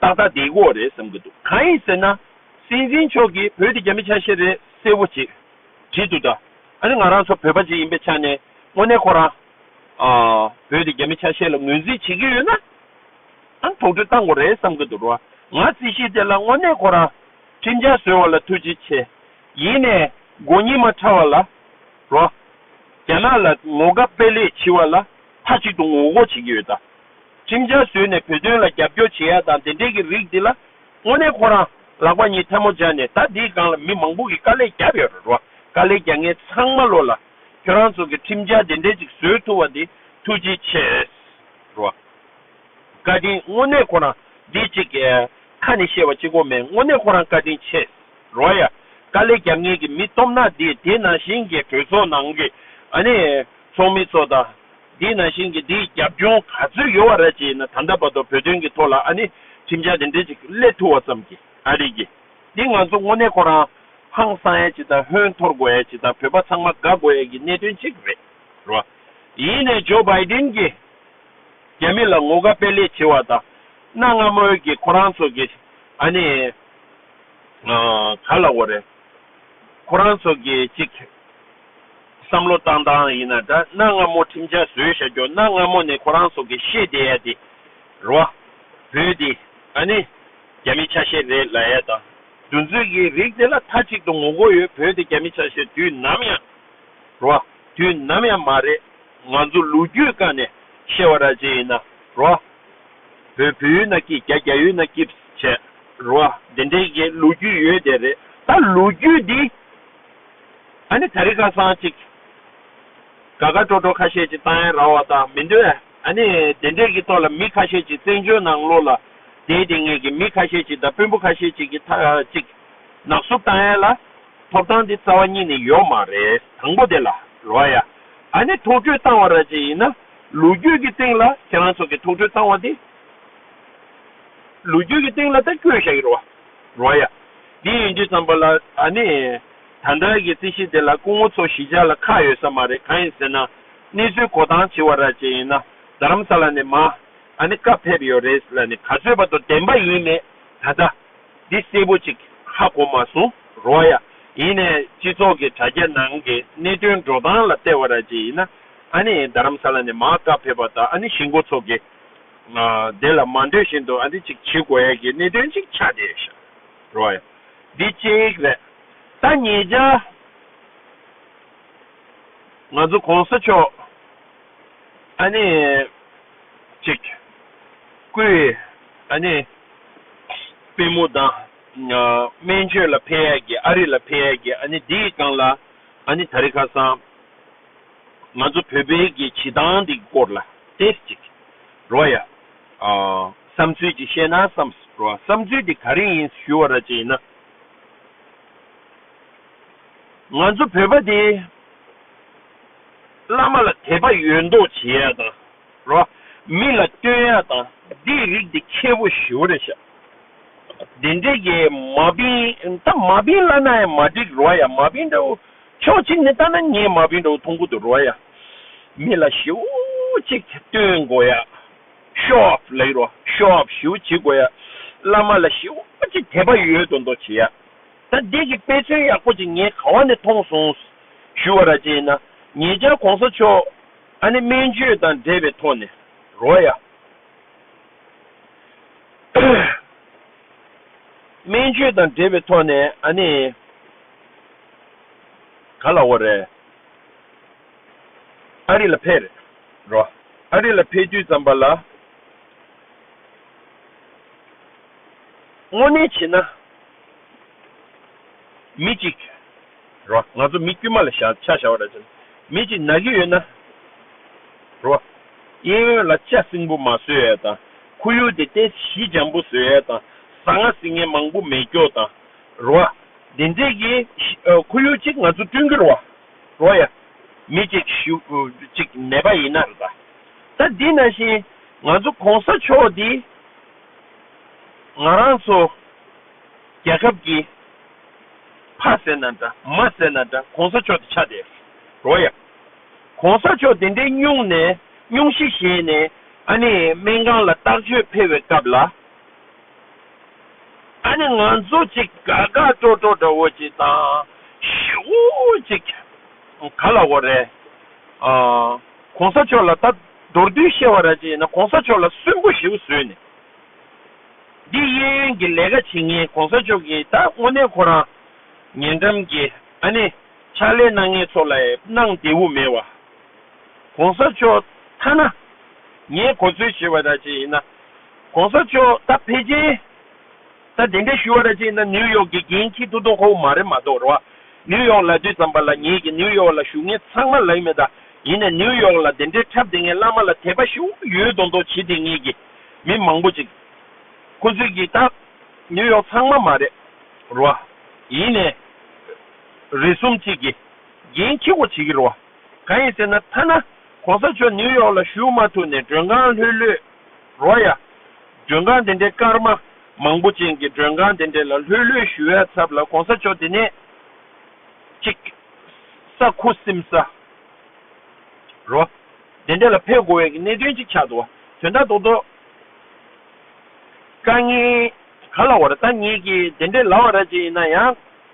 ཏག་ཏག་དེའི་དབུ་བ་རེད་བསམ་གྱི་འདུག་གང་ཡིན་ཟེར་ན། སྲིད་འཛིན་མཆོག་གིས་བོད་དེ་རྒྱ་མི་ཆ་ཤས་རེད་གསལ་བོ་བྱེད་བགྱིད་འདུག་ད་ནི་ང་རང་ཚོ་བོད་པ་ཞིག་ཡིན་པའི་ཆ་ནས་དངོས་གནས་ཁོ་རང། བོད་དེ་རྒྱ་མི་ཆ་ཤས་ལ་ངོས་འཛིན་བྱེད་ཀྱི་ཡོད་ན། ཨང་དོགས་འདྲི་བཏང་དགོས་རེད་བསམ་གྱི་འདུག་རོང་ང་རྩིས་ཤིག་དེ་ལ་དངོས་གནས་ཁོ་རང་ཁྲིམས་འཆར་བཟོས་བ་ལ་ཐུགས་རྗེ་ཆེ། ཡིན་ནས་མགོ་གཉིས་མ་ཕྲ་བ་ལ། རོ། རྒྱ་ནག་ལ་ངོ་དགའ་དཔལ་ལེགས་བྱིས་བ་ལ་མཐའ་གཅིག་ཏུ་ངོ་རྒོལ་བྱེད་ཀྱི་ཡོད་ད། ཁྲིམས་འཆར་བཟོས་ནས་བོད་དོན་ལ་རྒྱབ་སྐྱོར་བྱེད་ཡ་དང་དེ་འབྲེལ་གྱི་རིགས་འདི་ལ། དངོས་གནས་ཁོ་རང་ལག་པ་གཉིས་ཐལ་མོ་སྦྱར་ནས་ད་འདིའི་སྒང་ལ་མི་མང་པོ་གི་དཀའ་ལས་རྒྱབ་ཡོད་རེད་རོ། དཀའ་ལས་རྒྱག་མཁན་ཚང་མ་བློ་ལ། ཁྱོད་རང་ཚོ་གི་ཁྲིམས་འཆར་དེ་འདྲས་ཅིག་བཟོས་ཐུབ་བ་འདི་ཐུགས་རྗེ་ཆེས་རོ། བཀའ་དྲིན་དངོས་གནས་ཁོ་རང་འདི་ཅིག་གི་ཁ་ནས་བཤད་བ་ཅིག་གོ་མེད་དངོས་གནས་ཁོ་རང་བཀའ་དྲིན་ཆེས་རོ་ཡ། དཀའ་ལས་རྒྱབ་མཁན་གི་མི་སྟོབས་ནག་འདིས་དེ་ནང་བཞིན་གྱི་གྲོས་ཚོགས་ནང་གི་ཨ་ནེ་ཚོགས་མི་ཚོ་དང། དེས་ན་ཤིང་གི་དེའི་རྒྱབ་ལྗོངས་ག་ཚོད་ཡོལ་བ་རེད་ཅེས་ཡིན་ན་ད་ལྟ་བར་དུ་བོད་དོན་གྱི་ཐོག་ལ་ཨ་ནི་ཁྲིམས་འཆར་དེ་འདྲས་ཅིག་གླེད་ཐུབ་བ་ཙམ་གྱི་ཨ་རེད་གི། འདི་ང་ཚོ་དངོས་གནས་ཁོ་རང་ཧང་སང་ཡས་ཅིག་དང་ཧོན་འཐོར་དགོས་ཡས་ཅིག་དང་བོད་པ་ཚང་མ་དགའ་དགོས་ཡས་ཀྱི་གནད་དོན་ཅིག་རེད་རོ། ཡིན་ནས་ཇོ་བྷའི་ཏིན་གྱིས་རྒྱ་མི་ལ་ངོ་དགའ་དཔེ་ལེགས་བྱེད་བ་དང་གནའ་སྔ་མོ་ཡོད་ཀྱི་ཁོ་རང་ཚོ་གི་ཨ་ནི་ག་ལ་འོ་རེད། ཁོ་རང་ཚོ་གི་ཅིག། བསམ་བློ་བཏང་སྟངས་ཡིན་ན་འདྲ་གནའ་སྔ་མོ་ཁྲིམས་འཆར་བཟོས་བཞག་རྒྱུ་གནའ་སྔ་མོ་ནས་ཁོ་རང་ཚོ་གི་ཤེས་བདེ་ཡ་དེ་རོ། བོད་དེ་ཨ་ནི་རྒྱ་མི་ཆ་ཤས་རེད་ལ་ཡ་དང་འདུ་འཛོད་ཀྱི་རིགས་དེ་ལ་མཐའ་གཅིག་ཏུ་ངོ་རྒོལ་ཡོད་བོད་དེ་རྒྱ་མི་ཆ་ཤས་དུས་ནམ་ཡང་རོ། དུས་ནམ་ཡང་མ་རེད་ང་ཚོ་ལུག་རྒྱུད་དཀའ་ནས་ཤེས་བ་ར་ཅན་ཡིན་ན་རོ། བོད་བོད་ཡུལ་ན་སྐྱིད་རྒྱ་རྒྱ་ཡུལ་ན་སྐྱིད་བྱས་རོ་དེ་འདྲའི་གི་ལུག་རྒྱུད་ཡོད་དེ་རེད་ད་ལུག་རྒྱུད་དེ། ཨ་ནི་ད་རི་ཁ་སང་ཅིག་ག་ག་ཀྲོ་ཀྲོ་ཁ་ཤས་ཀྱི་ཏང་ཡན་ར་བ་དང་མི་འདོད་ཨ་ནི་དེ་འདྲས་ཀྱི་ཐོག་ལ་མི་ཁ་ཤས་ཀྱི་བཙན་བྱོལ་ནང་ལོག་ལ་དེའི་དེ་ངས་ཀྱི་མི་ཁ་ཤས་ཀྱི་དང་དཔོན་པོ་ཁ་ཤས་ཅིག་གི་ཐ་ཅིག་ནག་སུབ་ཏང་ཡན་ལ་ཐོབ་ཐང་དེ་རྩ་བ་ཉིད་ནས་ཡོད་མ་རེད་དང་པོ་དེ་ལ་རོ་ཡ་ཨ་ནི་ཐུགས་ཁྲོས་བཏང་བ་ར་ཅིག་ཡིན་ན་ལུ་རྒྱུད་ཀྱི་སྟེང་ལ་ཁྱེད་རང་ཚོ་གི་ཐུགས་ཁྲོས་བཏང་བ་དེ་ལུ་རྒྱུད་ཀྱི་སྟེང་ལ་ད་བསྐྱོད་བཞག་གི་རོ། རོ་ཡ། འདི་ཡིན་དུས་ཙམ་པ་ལ་ད་ནི། ད་ལྟར་གྱི་རྩིས་གཞི་དེ་ལ་སྐུ་ངོ་ཚོ་གཞིས་ཆགས་ལ་ཁག་ཡོད་ས་མ་རེད་གང་ཡིན་ཟེར་ན། གནས་ཚུལ་གོ་ཐང་བྱི་བ་ར་བཅས་ཡིན་ན་རྡ་རམ་ས་ལ་ནས་མ། ཨ་ནི་སྐབས་ཕེབས་ཡོད་རེད་ལ་ནི་ག་ཚོད་པ་དུ་བདེན་པ་ཡིན་མེད་ད་ལྟ། འདི་གསལ་པོ་ཅིག་ཧ་གོ་མ་སོང་རོ་ཡ། ཡིན་ནས་སྤྱི་ཚོགས་ཀྱི་དྲ་རྒྱ་ནང་གི་གནད་དོན་འགྲོ་སྟངས་ལ་བལྟས་བ་ར་བཅས་ཡིན་ན། ཨ་ནི་རྡ་རམ་ས་ལ་ནས་མ་སྐབས་ཕེབས་པ་ད་ཨ་ནི་གཞིས་མགོ་ཚོ་གི། དེ་ལ་མ་འདོད་བཞིན་དུ་ཨ་འདི་ཅིག་བྱེད་དགོས་ཡ་གི་གནད་དོན་ཅིག་ཆགས་བསྡད་ཤག་རོགས་ཡ། འདི་གཅིག་རེད། ད་ངེད་ཅག་ང་ཚོ་གོང་ས་མཆོག་ཨ་ནི་ཅིག་སྐུའི་ཨ་ནི་པི་མོ་དང་སྨན་བཅོས་ལ་ཕེ་ཡ་གི་ཨ་རི་ལ་ཕེ་ཡ་གི་ཨ་ནི་འདི་གང་ལ་ཨ་ནི་ད་རི་ཁ་སང། ང་ཚོ་བོད་པའི་གི་བྱེད་སྟངས་འདི་སྐོར་ལ་ཏེས་ཅིག་རོ་ཡ། བསམ་ཚུལ་ཅིག་བཤད་ན་བསམས་རོ་ཨ་བསམ་ཚུལ་དེ་ག་རེ་ཡིན་ཞུ་བ་ར་ཅིག་ཡིན་ན། ང་ཚོ་བོད་པ་དེ། བླ་མ་ལ་དད་པ་ཡོད་མདོག་བྱེད་ཡ་དང་རོ་ཨ། མི་ལ་བསྟོད་ཡ་དང་དེ་རིགས་དེ་ཁྱེད་བོ་ཞུ་བ་ར་ཤ། དེ་འདྲེ་གི་མ་བིན་ད་མ་བིན་བླ་ན་ཡ་མ་འགྲིག་རོ་ཨ་ཡ་མ་བིན་འདྲ་བོ། ཕྱོགས་གཅིག་ནས་ལྟ་ན་ངའི་མ་བུའི་འགྲོ་འཐུང་ཁུར་དུ་རོལ་ཡ། མི་ལ་ཞེའུ་ཅིག་སྟོན་དགོས་ཡ། ཤོ་ཨོབ་ལེགས་རོ་ཤོ་ཨོབ་ཞེའུ་བྱེད་དགོས་ཡ། བླ་མ་ལ་ཞེའུ་ཅིག་དད་པ་ཡོད་དོ་མདོག་བྱེད་ཡ། ད་འདི་གི་དཔེ་མཚོན་ཡག་པོ་ཅིག་ངས་ག་བ་ནས་མཐོང་སོང། ཞུ་བ་ར་ཅན་ན་ངེད་ཅག་གོང་ས་མཆོག་ཨ་ནེ་སྨན་བཅོས་དང་འབྲེལ་བའི་ཐོག་ནས་རོལ་ཡ། སྨན་བཅོས་དང་འབྲེལ་བའི་ཐོག་ནས་ཨ་ནེ། ག་ལ་བོ་རེད། ཨ་རི་ལ་ཕེབས་རེད། རོ། ཨ་རི་ལ་ཕེབས་དུས་ཙམ་པ་ལ། དངོས་གནས་བྱས་ན། མི་གཅིག། རོ། ང་ཚོ་མི་དཀྱུས་མ་ལ་བཞག་ཆ་བཞག་བ་རེད་བྱས་ན། མི་གཅིག་ན་གི་ཡོད་ན། རོ། གཡས་གཡོན་ལ་ལྕགས་སྲིན་པོ་མ་བཟོས་ཡས་དང། ཁོར་ཡུག་དེ་ཏས་གཞི་འཇམ་པོ་བཟོས་ཡས་དང། ཟ་ང་ཟི་ངན་མང་པོ་མེད་སྐྱོ་དང། རོ་ཡ། འདི་འཛེགས་ཀྱི། ཁོར་ཡུག་ཅིག་ང་ཚོ་བསྐྲུན་གྱི་རོ། རོ་ཡ། མི་གཅིག་གཞུག་ཅིག་མེད་པ་ཡིན་ན་རེ་ད། ད་འདི་ན་བཞིན་ང་ཚོ་གོང་ས་མཆོག་འདི། ང་རང་ཚོ། རྒྱལ་ཁབ་ཀྱི། ཕ་ཟེར་ན་འདྲ་མ་ཟེར་ན་འདྲ་གོང་ས་མཆོག་འདི་ཆགས་བསྡད། རོ་ཡ། གོང་ས་མཆོག་འདི་འདྲའི་སྙུང་ནས་སྙུང་གཞི་བཞེས་ནས་ཨ་ནེ་སྨན་ཁང་ལ་བརྟག་བཅོས་འཕེལ་བའི་སྐབས་ལ། ད་ནི་ང་ཚོ་ཅིག་དགའ་དགའ་སྤྲོ་སྤྲོ་འདྲ་བོ་ཅིག་དང་ཞི་བོ་ཅིག་ག་ལ་འོ་རེད། གོང་ས་མཆོག་ལ་ད་མདོར་བསྡུས་བཤད་བ་ར་ཅིག་ཡིན་ན་གོང་ས་མཆོག་ལ་སུན་པོ་ཞི་བོ་བཟོས་ནས་འདི་གཡས་གཡོན་གྱི་ལས་ཀ་བྱེད་ངེས་གོང་ས་མཆོག་གིས་ད་དངོས་གནས་ཁོ་རང་ཉེ་འགྲམ་གྱི་ཨ་ནི་ཕྱག་ལས་གནང་ངེས་ཚོ་ལ་ཡིད་གནང་བདེ་བོ་མེད་བ། གོང་ས་མཆོག་ཐ་ན་ངས་གོ་ཚོད་བྱེད་བ་ར་ཅིག་ཡིན་ན། ྋགོང་ས་མཆོག་ད་ཕེ་ཅིན་ད་དེ་འདྲས་ཞུ་བ་ར་ཅིག་ན་ནིའུ་ཡོག་གི་རྒྱན་ཁྱི་ཐུ་ཐུ་ཁོ་བོ་མ་རེད་མ་གཏོགས་ར་བ་ནིའུ་ཡོག་ལ་དུས་ཙམ་པ་ལ་ངེད་ཀྱི་ནིའུ་ཡོག་ལ་ཞུ་ངེས་ཚང་མ་ལགས་མེད་ད་ཡིན་ནས་ནིའུ་ཡོག་ལ་དེ་འདྲས་འཁྲབ་དེ་ངས་བླ་མ་ལ་དད་པ་ཞུ་ཡོད་མདོག་མདོག་བྱེད་དེ་ངེད་ཀྱི་མི་མང་པོ་ཅིག་ཁོ་ཚོས་ཀྱི་ད་ནིའུ་ཡོག་ཚང་མ་མ་རེད་ར་བ་ཡིན་ནས་རེ་གསུམ་ཅིག་གི་རྒྱན་ཁྱི་བོ་བྱེད་ཀྱི་ར་བ་ག་ཡིན་ཟེར་ན་ཐ་ན ྋགོང་ས་མཆོག་ནིའུ་ཡོག་ལ་ཞུ་མ་ཐུབ་ནས་མགྲོན་ཁང་ལྷོད་ལྷོད། རོ་ཡ། མགྲོན་ཁང་དེ་འདྲའི་སྐར་མ་མང་པོ་ཅན་གྱི་མགྲོན་ཁང་དེ་འདྲའི་ལ་ལྷོད་ལྷོད་ཞུ་བའི་ཚབ་ལ་གོང་ས་མཆོག་དེ་ནས་ཅིག། ས་ཁུ་སིམ་ས། རོ། དེ་འདྲའི་ལ་ཕེབས་དགོས་བའི་གི་གནད་དོན་ཅིག་ཆགས་འདུག་བ་དོན་དག་ཏོག་ཏོག་དཀའ་ངལ་ག་ལ་བ་ར་ད་ངེད་ཀྱིས་དེ་འདྲའི་ལ་བ་ར་ཅིག་ཡིན་ན་ཡང།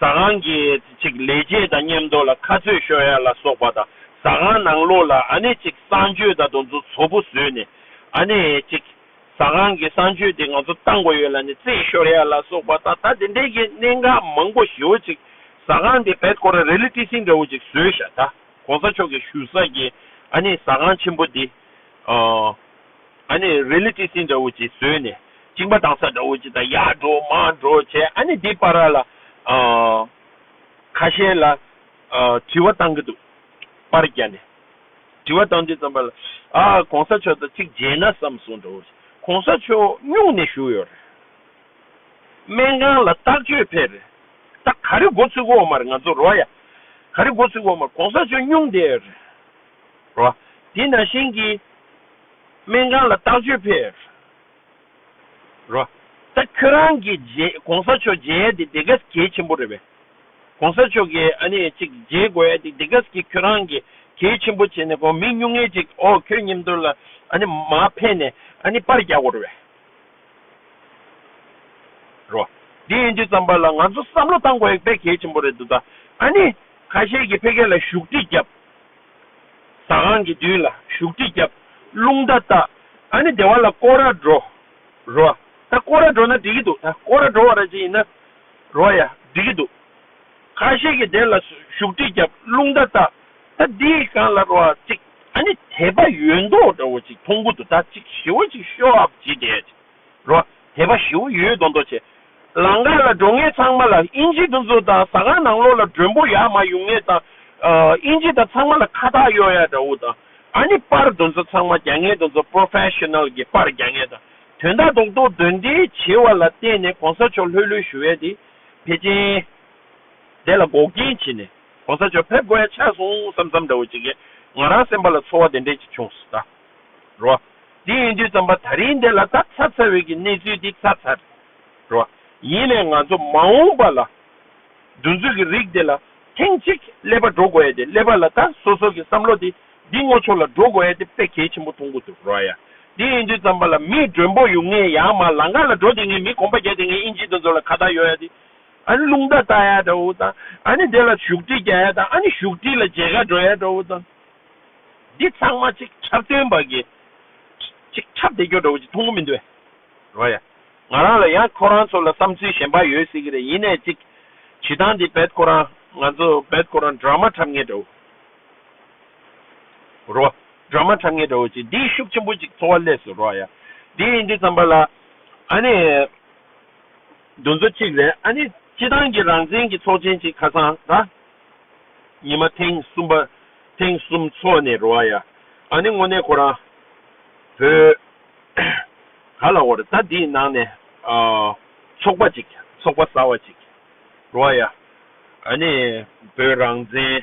ཟ་ཁང་གི་ཅིག་ལས་བྱེད་དང་མཉམ་འདོར་ལ་ཁ་རྩོད་ཤོར་ཡ་ལ་སོགས་པ་དང་ཟ་ཁང་ནང་ལོགས་ལ་ཨ་ནེ་ཅིག་གསང་སྤྱོད་དང་དུ་ཚོ་ཚོ་པོ་བཟོས་ནས་ཨ་ནེ་ཅིག་ཟ་ཁང་གི་གསང་སྤྱོད་དེ་ང་ཚོ་བཏང་དགོས་ཡོད་ལ་ནས་རྩེད་ཤོར་ཡ་ལ་སོགས་པ་དང་ད་དེ་འདྲས་ཀྱི་གནད་འགག་མང་པོ་ཞི་བོ་ཅིག་ཟ་ཁང་དེ་བེད་ཁོ་ར་རེ་ལི་ཏི་སིང་འདྲ་བོ་ཅིག་བཟོས་ཤ་ད་གོང་ས་མཆོག་གི་ཞུ་ས་གི་ཨ་ནེ་ཟ་ཁང་ཆེན་པོ་དེ་ཨ། ཨ་ནི་རི་ལི་ཏི་སིན་འདྲ་བོ་ཅིག་བཟོས་ནས་བཅིངས་པ་དང་ས་འདྲ་བོ་ཅིག་དང་ཡར་འགྲོ་མར་འགྲོ་བྱས་ཨ་ནི་འདི་པར་ར་ལ་ཁ་ཤས་ལ་དྲི་བ་བཏང་གི་འདུག་པར་རྒྱ་ནས་དྲི་བ་བཏང་དུས་ཙམ་པར་ལ་ཨ་གོང་ས་མཆོག་དང་ཅིག་མཇལ་ན་བསམ་སོང་འདྲ་བོ་ཅིག་གོང་ས་མཆོག་སྙུང་ནས་བཞུགས་ཡོད་རེད་སྨན་ཁང་ལ་རྟགས་བཅོས་ཕེབས་རེད་ད་ག་རེ་འགོ་ཚུགས་འོག་མར་ང་ཚོ་རོ་ཡ་ག་རེ་འགོ་ཚུགས་འོག་མར་གོང་ས་མཆོག་སྙུང་བསྡད་ཡོད་རེད། རོ། དེས་ན་གཞན་གྱིས། སྨན་གང་ལ་བརྟག་བཅོས་ཕེར། རོ། ད་ཁྱོད་རང་གི་རྗེ་གོང་ས་མཆོག་མཇལ་ཡས་དེ་དེ་ག་ཟི་གལ་ཆེན་པོ་རེད་པས། གོང་ས་མཆོག་གིས་ཨ་ནི་ཅིག་མཇལ་དགོས་ཡས་དེ་དེ་ག་ཟི་གི་ཁྱོད་རང་གི་གལ་ཆེན་པོ་བྱས་ནས་གོ་མི་སྨྱུང་ངེས་ཅིག་ཨོ་ཁྱོད་ཉིན་བདུན་ལ་ཨ་ནི་མ་ཕེར་ནས་ཨ་ནི་པར་རྒྱག་དགོས་རེད་པས། རོ། དེ་ཡིན་དུས་ཙམ་པ་ལ་ང་ཚོ་བསམ་བློ་བཏང་དགོས་ཡས་དཔེ་གལ་ཆེན་པོ་རེད་འདུག་ད་ཨ་ནི་ཁ་ཤས་ཀྱིས་ཕེ་ཁེ་ལ་བཞུགས་ཁྲི་བརྒྱབ། ཟ་ཁང་གི་མདུན་ལ་བཞུགས་ཁྲི་བརྒྱབ། རླུང་རྟ་བཏགས། ཨ་ནི་སྡེ་བ་ལ་སྐོར་ར་འགྲོ། རོ། ད་སྐོར་ར་འགྲོ་ན་འགྲིག་གི་འདུག་ད་སྐོར་ར་འགྲོ་བ་ར་ཅིག་ཡིན་ན། རོ། ཡ། འགྲིག་གི་འདུག། ཁ་ཤས་ཀྱི་སྡེ་ལ་བཞུགས་ཁྲི་བརྒྱབ། རླུང་རྟ་བཏགས། ད་འདི་ཡི་གང་ལ་རོ་བ་ཅིག་ཨ་ནི་དད་པ་ཡོད་མདོག་འདྲ་བོ་ཅིག་མཐོང་གི་འདུག་ད་ཅིག་ཞི་བ་ཅིག་ཤོག་ཨ་བ་ཅིག་དེ། རོ། དད་པ་ཞི་བོ་ཡོད་མདོག་མདོག་བྱས། ལང་ཀ་ལ་འགྲོ་ངེས་ཚང་མ་ལ་དབྱིན་ཇི་འདུ་འཛོ་དང་ཟ་ཁང་ནང་ལོག་ལ་མགྲོན་པོ་ཡག་མ་ཡོང་ངེས་དང་དབྱིན་ཇི་དང་ཚང་མ་ལ་ཁ་ཐག་གཡོག་ཡག་འདྲ་བོ་དང་ཨ་ནི་པར་འདུ་འཛོ་ཚང་མ་རྒྱ་ངན་འདུ་འཛོ Professional གི་པར་རྒྱ་ངན་དང་དོན་དག་རྡོག་རྡོག་འདོན་འདི་བྱེད་བ་ལ་བརྟེན་ནས་གོང་ས་མཆོག་ལྷོད་ལྷོད་ཞུ་བས་དེ་ཕེ་ཅན་དེ་ལ་འགོག་རྐྱེན་བྱེད་ནས་གོང་ས་མཆོག་ཕེབས་དགོས་ཡ་ཆགས་སོང་བསམ་བསམ་འདྲ་བོ་བྱེད་ཁན་ང་རང་སེམས་པ་ལ་ཚོར་བ་དེ་འདྲས་ཅིག་བྱུང་སོ་ད། རོ། དེ་ཡིན་དུས་བརྩམས་པ་ད་རིང་འདི་ལ་ད་ཚར་ཚར་བའི་གི་གནས་ཚུལ་འདི་ཚར་ཚར་རོ། ཡིན་ནས་ང་ཚོ་མ་འོངས་པ་ལ་འདུ་འཛོད་གི་རིགས་འདི་ལ་ཐེངས་གཅིག་ཀླད་པ་འགྲོ་དགོས་ཡ་དེ་ཀླད་པ་ལ་ད་སོ་སོ་གི་བསམ་བློ་དེ་འདི་ངོ་ཆོ་ལ་འགྲོ་དགོས་ཡ་དེ་དཔེ་གལ་ཆེན་པོ་མཐོང་གི་འདུག་རོ་ཡ། དེ་ཡིན་དུས་བརྩམས་པ་ལ་མི་མགྲོན་པོ་ཡོང་ངེས་ཡ་མ་ལང་ག་ལ་འགྲོ་དེ་ངས་མི་གོམ་པ་བརྒྱ་དེ་ངས་དབྱིན་ཇི་འདུ་འཛོད་ལ་ཁ་བརྡ་ཡོད་ཡ་དེ་ཨ་ནི་རླུང་རྟ་བཏགས་ཡ་འདྲ་བོ་དང་ཨ་ནི་དེ་ལ་བཞུགས་ཁྲི་རྒྱག་ཡ་དང་ཨ་ནི་བཞུགས་ཁྲི་ལ་མཇལ་ཁ་འགྲོ་ཡ་འདྲ་བོ་དང། འདི་ཚང་མ་ཅིག་ཆར་སྟོན་པ་གི་ཅིག་ཆར་འདེགས་སྐྱོར་འདྲ་བོ་ཅིག་མཐོང་གི་མི་འདུག་བ་ཡ། ང་རང་ལ་ཡང་ཁོ་རང་ཚོ་ལ་བསམ་ཚུལ་གཞན་པ་ཡོད་སྲིད་ཀྱི་རེད་ཡིན་ནས་ཅིག་བྱེད་སྟངས་འདི་བེད་ཁོ་རང་ང་ཚོ་བེད་ཁོ་རང་འདྲ་མ་འཁྲབ་ངེས་འདྲ་བོ་རོ། འདྲ་མ་འཁྲབ་ངེས་འདྲ་བོ་ཅིག་འདིས་ཤུགས་ཆེན་པོ་ཅིག་འཚོ་བ་ལས་སུ་རོ་ཡ། འདི་ཡིན་འདི་ཙམ་པ་ལ་ཨ་ནི་འདུ་འཛོ་ཅིག་རེད་ཨ་ནི་སྤྱི་བཏང་གི་རང་བཙན་གྱི་ཚོགས་ཆེན་ཅིག་ཁ་སང་ད། ཉི་མ་ཐེངས་གསུམ་པ། ཐེངས་གསུམ་ཚོགས་ནས་རོ་ཨ་ཡ། ཨ་ནི་དངོས་གནས་ཁོ་རང། བོད། ག་ལ་འོར་ད་འདིའི་ནང་ནས། ཚོགས་པ་ཅིག་ཚོགས་པ་ཟ་བ་ཅིག། རོ་ཨ་ཡ། ཨ་ནི་བོད་རང་བཙན།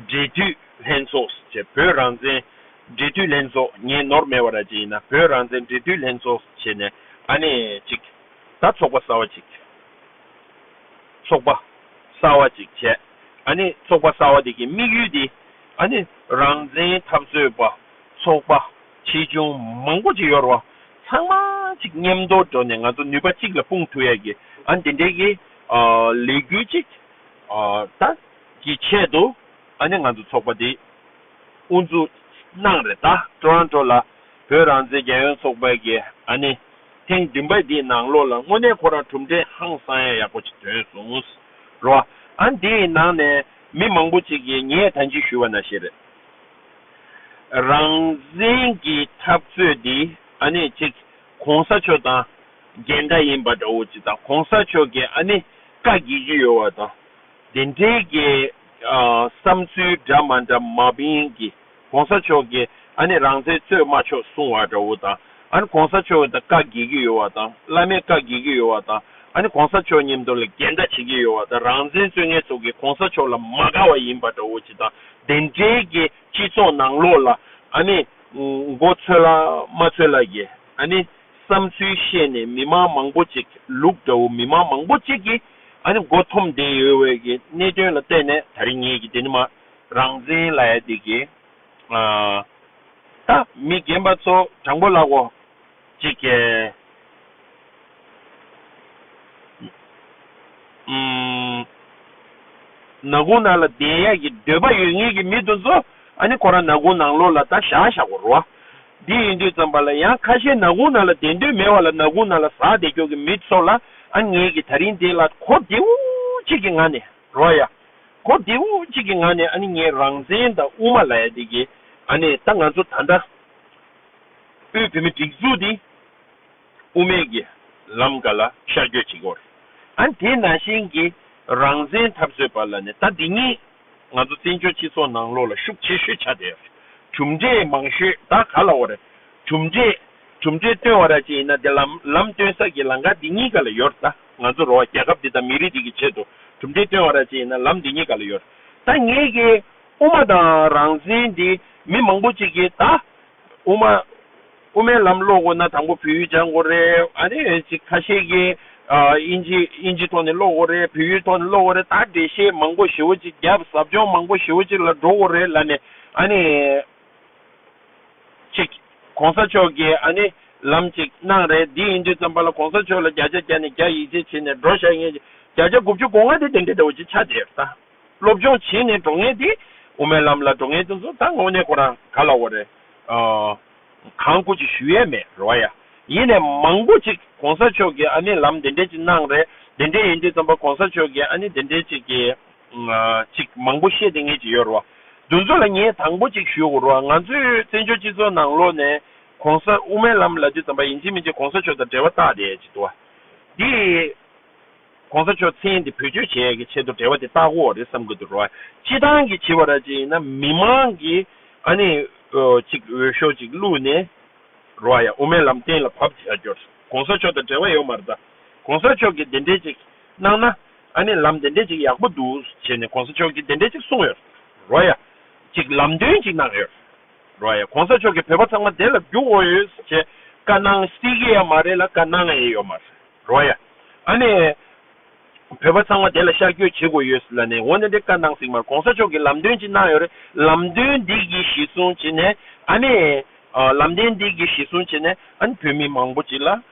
འབྲེལ་མཐུད་ལྷན་ཚོགས་སུ་བྱས་བོད་རང་བཙན། འབྲེལ་མཐུད་ལྷན་ཚོགས་ངས་ནོར་མེད་པ་ར་ཅིག་ཡིན་ན་བོད་རང་བཙན་འབྲེལ་མཐུད་ལྷན་ཚོགས་སུ་བྱས་ནས་ཨ་ནི་ཅིག། ད་ཚོགས་པ་ཟ་བ་ཅིག། ཚོགས་པ་གསར་བ་ཅིག་བྱས། ཚོགས་པ་གསར་བ་དེ་གི་དམིགས་ཡུལ་དེ། རང་བཙན་འཐབ་རྩོད་པ་ཚོགས་པ་ཆེ་ཆུང་མང་པོ་ཅིག་ཡོད་རུང། ཚང་མ་ཅིག་མཉམ་དུ་འགྲོ་ནས་ང་ཚོ་ནུས་པ་གཅིག་ལ་སྤུངས་ཐུབ་ཡག་གི། དེ་འདྲའི་གི་ལས་འགུལ་ཅིག་ད་གི་ཆེད་དུ་ང་ཚོ་ཚོགས་པ་དེ་དབུ་འཛུགས་གནང་རེད་ད། ཀྲོ་རོན་ཀྲོ་ལ་བོད་རང་བཙན་རྒྱལ་ཡོངས་ཚོགས་པའི་གི། ཐེངས་བདུན་པ་འདིའི་ནང་ལོགས་ལ་དངོས་གནས་ཁོ་རང་གྲུབ་འབྲས་ཧང་སང་ཡག་ཡག་པོ་ཅིག་ཐོན་སོང་རོ། ཨང་དེའི་ནང་ནས་མི་མང་པོ་ཅིག་གིས་ངས་ད་འཇིགས་ཞུ་བ་ན་ཞེ་རེད། རང་བཙན་གྱི་འཐབ་རྩོད་འདི་ཨ་ནི་ཅིག་གོང་ས་མཆོག་དང་འགལ་འདྲ་ཡིན་པ་འདྲ་བོ་ཅིག་དང་གོང་ས་མཆོག་གིས་ཨ་ནི་བཀའ་བགྱིད་ཀྱི་ཡོད་བ་དང་དེ་འབྲེལ་གྱི་བསམ་ཚུལ་འདྲ་མ་འདྲ་མ་བིང་གིས། གོང་ས་མཆོག་གི་ཨ་ནེ་རང་བཙན་རྩོད་མ་ཆོག་གསུང་བ་འདྲ་བོ་དང་ཨ་ནེ་གོང་ས་མཆོག་གི་དང་བཀའ་འགེལ་གྱི་ཡོད་བ་དང་བླ་མའི་བཀའ་འགེལ་གྱི་ཡོད་བ་དང་ཨ་ནེ་གོང་ས་མཆོག་ཉིན་ཐོ་ལ་འགལ་ཟླ་བྱེད་ཀྱི་ཡོད་བ་དང་རང་བཙན་རྩོད་མཁན་ཚོ་གིས་གོང་ས་མཆོག་ལ་མ་དགའ་བ་ཡིན་པ་འདྲ་བོ་ཅི་དང་དེ་འབྲེལ་གྱི་སྤྱི་ཚོགས་ནང་ལོག་ལ་ཨ་ནེ་མགོ་ཚོད་ལ་མ་ཚོད་ལ་གྱི་ཨ་ནེ་བསམ་ཚུལ་བཤད་ནས་མི་མང་མང་པོ་ཅིག་ལུག་འདྲ་བོ་མི་མང་མང་པོ་ཅིག་གིས་ཨ་ནེ་མགོ་འཐོམ་བསྡད་ཡོད་བའི་གི་གནད་དོན་ལ་བལྟས་ནས་ད་རེ་ངེད་ཀྱི་དེ་ནི་མ། རང་འཛིན་ལ་ཡ་བདེ་གི། ད་མི་རྒན་པ་ཚོ་དྲང་པོ་ལགས་འོ། ཅིག་གེ། ནག་གུང་ནང་ལ་བསྡད་ཡ་གི་འདོད་པ་ཡོད་ངེས་གི་མི་དོན་ཚོ་ཨ་ནི་ཁོ་རང་ནག་གུང་ནང་ལོག་ལ་ད་བཞག་བཞག་གོ་རོ། འདི་ཡིན་དུས་ཙམ་པ་ལ་ཡང་ཁ་ཤས་ནག་གུང་ནང་ལ་བསྡད་འདོད་མེད་བ་ལ་ནག་གུང་ནང་ལ་ཟག་བསྡད་ཀྱོག་གི་མི་ཚོ་ལ་ཨ་ངེས་གི་ད་རིང་དེ་ལ་གོ་བདེའོ། ཅིག་གི་ང་ནི། རོ་ཡ། གོ་བདེ་བོ་གཅིག་གི་ངང་ནས་ཨ་ནི་ངའི་རང་བཙན་དང་དབུ་མ་ལ་ཡ་དེ་གི་ཨ་ནི་ད་ང་ཚོ་ད་ལྟ་དབུས་བོད་མི་སྒྲིག་འཛུགས་དེ་དབུ་མེད་གི་ལམ་ག་ལ་ཤར་སྐྱོད་བྱེད་གོ་རེད་ཨ་ནི་དེ་ན་ཞིང་གི་རང་བཙན་འཐབ་རྩོད་པ་ལ་ནི་ད་འདི་གཉིས་ང་ཚོ་བཙན་བྱོལ་སྤྱི་ཚོགས་ནང་ལོགས་ལ་ཤུགས་ཆེ་ཤོས་ཆགས་དེ་རེད་གྲུབ་འབྲས་མང་ཤོས་ད་ག་ལ་འོ་རེད་གྲུབ་འབྲས་གྲུབ་འབྲས་སྟོན་བ་ར་ཅིག་ཡིན་ན་དེ་ལམ་ལམ་སྟོན་ས་གི་ལང་ཀ་འདི་གཉིས་ག་ལ་ཡོ་རེད་ད། ང་ཚོ་རོ་བ་རྒྱལ་ཁབ་འདི་དང་མི་རིགས་འདི་གི་ཆེད་དུ་གྲུབ་འབྲས་བཏོན་བ་ར་ཅི་ཡིན་ན་ལམ་འདི་གཉིས་ག་ལ་ཡོད། ད་ངས་ཀྱི་དབུ་མ་དང་རང་བཙན་འདི་མི་མང་པོ་ཅིག་གིས་ད་དབུ་མ་དབུ་མའི་ལམ་ཀློག་དགོས་ན་དང་པོ་བོད་ཡུལ་སྦྱང་དགོས་རེད་ཨ་ནེ་ཅིག་ཁ་ཤས་ཀྱིས་ཨིན་ཇི་ཨིན་ཇི་ཐོག་ནས་ཀློག་དགོས་རེད་བོད་ཡུལ་ཐོག་ནས་ཀློག་དགོས་རེད་ད་འགྲེལ་བཤད་མང་པོ་ཞེ་བོ་ཅིག་བརྒྱབ་ཟབ་སྦྱོང་མང་པོ་ཞེ་བོ་ཅིག་ལ་འགྲོ་དགོས་རེད་ལ་ནས་ཨ་ནེ། ཅིག། གོང་ས་མཆོག་གིས་ཨ་ནི་ལམ་ཅིག་གནང་རེད་འདི་ཡིན་དུས་ཙམ་པ་ལ་གོང་ས་མཆོག་ལ་བརྒྱ་ཆ་བརྒྱ་ནས་བརྒྱ་ཡིད་ཆེས་བྱེད་ནས་འགྲོ་ཤག་ངེད་ཀྱིས་བརྒྱ་ཆ་དགུ་བཅུ་གོ་ལྔ་དེ་དེ་འདྲའི་འདྲ་བོ་ཅིག་ཆགས་བསྡད་རེད་ད། སློབ་སྦྱོང་བྱེད་ནས་འགྲོ་ངེས་དེ་དབུ་མའི་ལམ་ལ་འགྲོ་ངེས་དེ་ཚོ་ད་དངོས་གནས་ཁོ་རང་ག་ལ་འོ་རེད་ཨ། གང་སྐུ་ཅིག་ཞུ་ཡས་མེད་རེད་བ་ཡ། ཡིན་ནས་མང་པོ་ཅིག་གོང་ས་མཆོག་གིས་ཨ་ནི་ལམ་དེ་འདྲའི་ཅིག་གནང་རེད་དེ་འདྲའི་ཡིན་དུས་ཙམ་པ་གོང་ས་མཆོག་གིས་ཨ་ནི་དེ་འདྲའི་ཅིག་གིས། ཅིག་མང་པོ་བཤད་དེ་ངེས་ཀྱི་ཡོད་རོ། འདུ་འཛོ་ལ་ངས་དང་པོ་ཅིག་ཞུ་དགོ་རོ་ང་ཚོའི་བཙན་བྱོལ་སྤྱི་ཚོགས་ནང་ལོ་ནས་གོང་ས་དབུ་མའི་ལམ་ལ་དུས་ཙམ་པ་ཡིན་གཅིག་མིན་གཅིག་གོང་ས་མཆོག་དང་འབྲེལ་བ་བཏགས་དེ་ཅིག་དུ་བ། དེ་གོང་ས་མཆོག་མཚན་དེ་བོད་ཆོས་བྱས་ཀྱི་ཆེད་དུ་འབྲེལ་བ་དེ་བཏགས་དགོ་རེད་བསམ་གི་འདུག་རོ། སྤྱི་ཐང་གི་བྱི་བ་ར་ཅིག་ཡིན་ན་མི་མང་གི་ཨ་ནི་ཅིག་འོས་ཤོག་ཅིག་བླུག་ནས་རོ་ཡ་དབུ་མའི་ལམ་གཏན་ལ་བབ་དེ་ཡ་རྒྱོ། གོང་ས་མཆོག་དང་འབྲེལ་བ་ཡོད་མ་རེད་ད། གོང་ས་མཆོག་གི་དེ་འདྲས་ཅིག། གནང་ན། ཨ་ནི་ལམ་དེ་འདྲས་ཅིག་ཡག་པོ་འདུག་ཟེར་ནས་གོང་ས་མཆོག་གིས་དེ་འདྲས་ཅིག་གསུངས་ཡོད་རོ་ཡ། ཅིག་ལམ་སྟོན་ཅིག་གནང་ཡོད་རོ་ཡ་གོང་ས་མཆོག་གིས་བོད་པ་ཚང་མ་དེ་ལ་རྒྱུག་འོང་ཡོད་ཟེར་བྱས་ཀ་གནང་སྲིད་ཀི་ཡ་མ་རེད་ལ་ཀ་གནང་ཨེ་ཡོད་མ་རོ་ཡ། ཨ་ནི། བོད་པ་ཚང་མ་དེ་ལ་ཤར་བསྐྱོད་བྱེད་དགོས་ཡོད་ལ་ནི་འོ་ནི་དེ་ཀ་གནང་སྲིད་མར་གོང་ས་མཆོག་གིས་ལམ་སྟོན་ཅིག་གནང་ཡོད་རེད་ལམ་སྟོན་འདི་གིས་གཞི་བཟུང་བྱས་ནས་ཨ་ནི། ལམ་སྟོན་འདི་གིས་གཞི་བཟུང་བྱས་ནས་ཨ་ནི་བོད་མི་མང་པོ་ཅིག་ལ།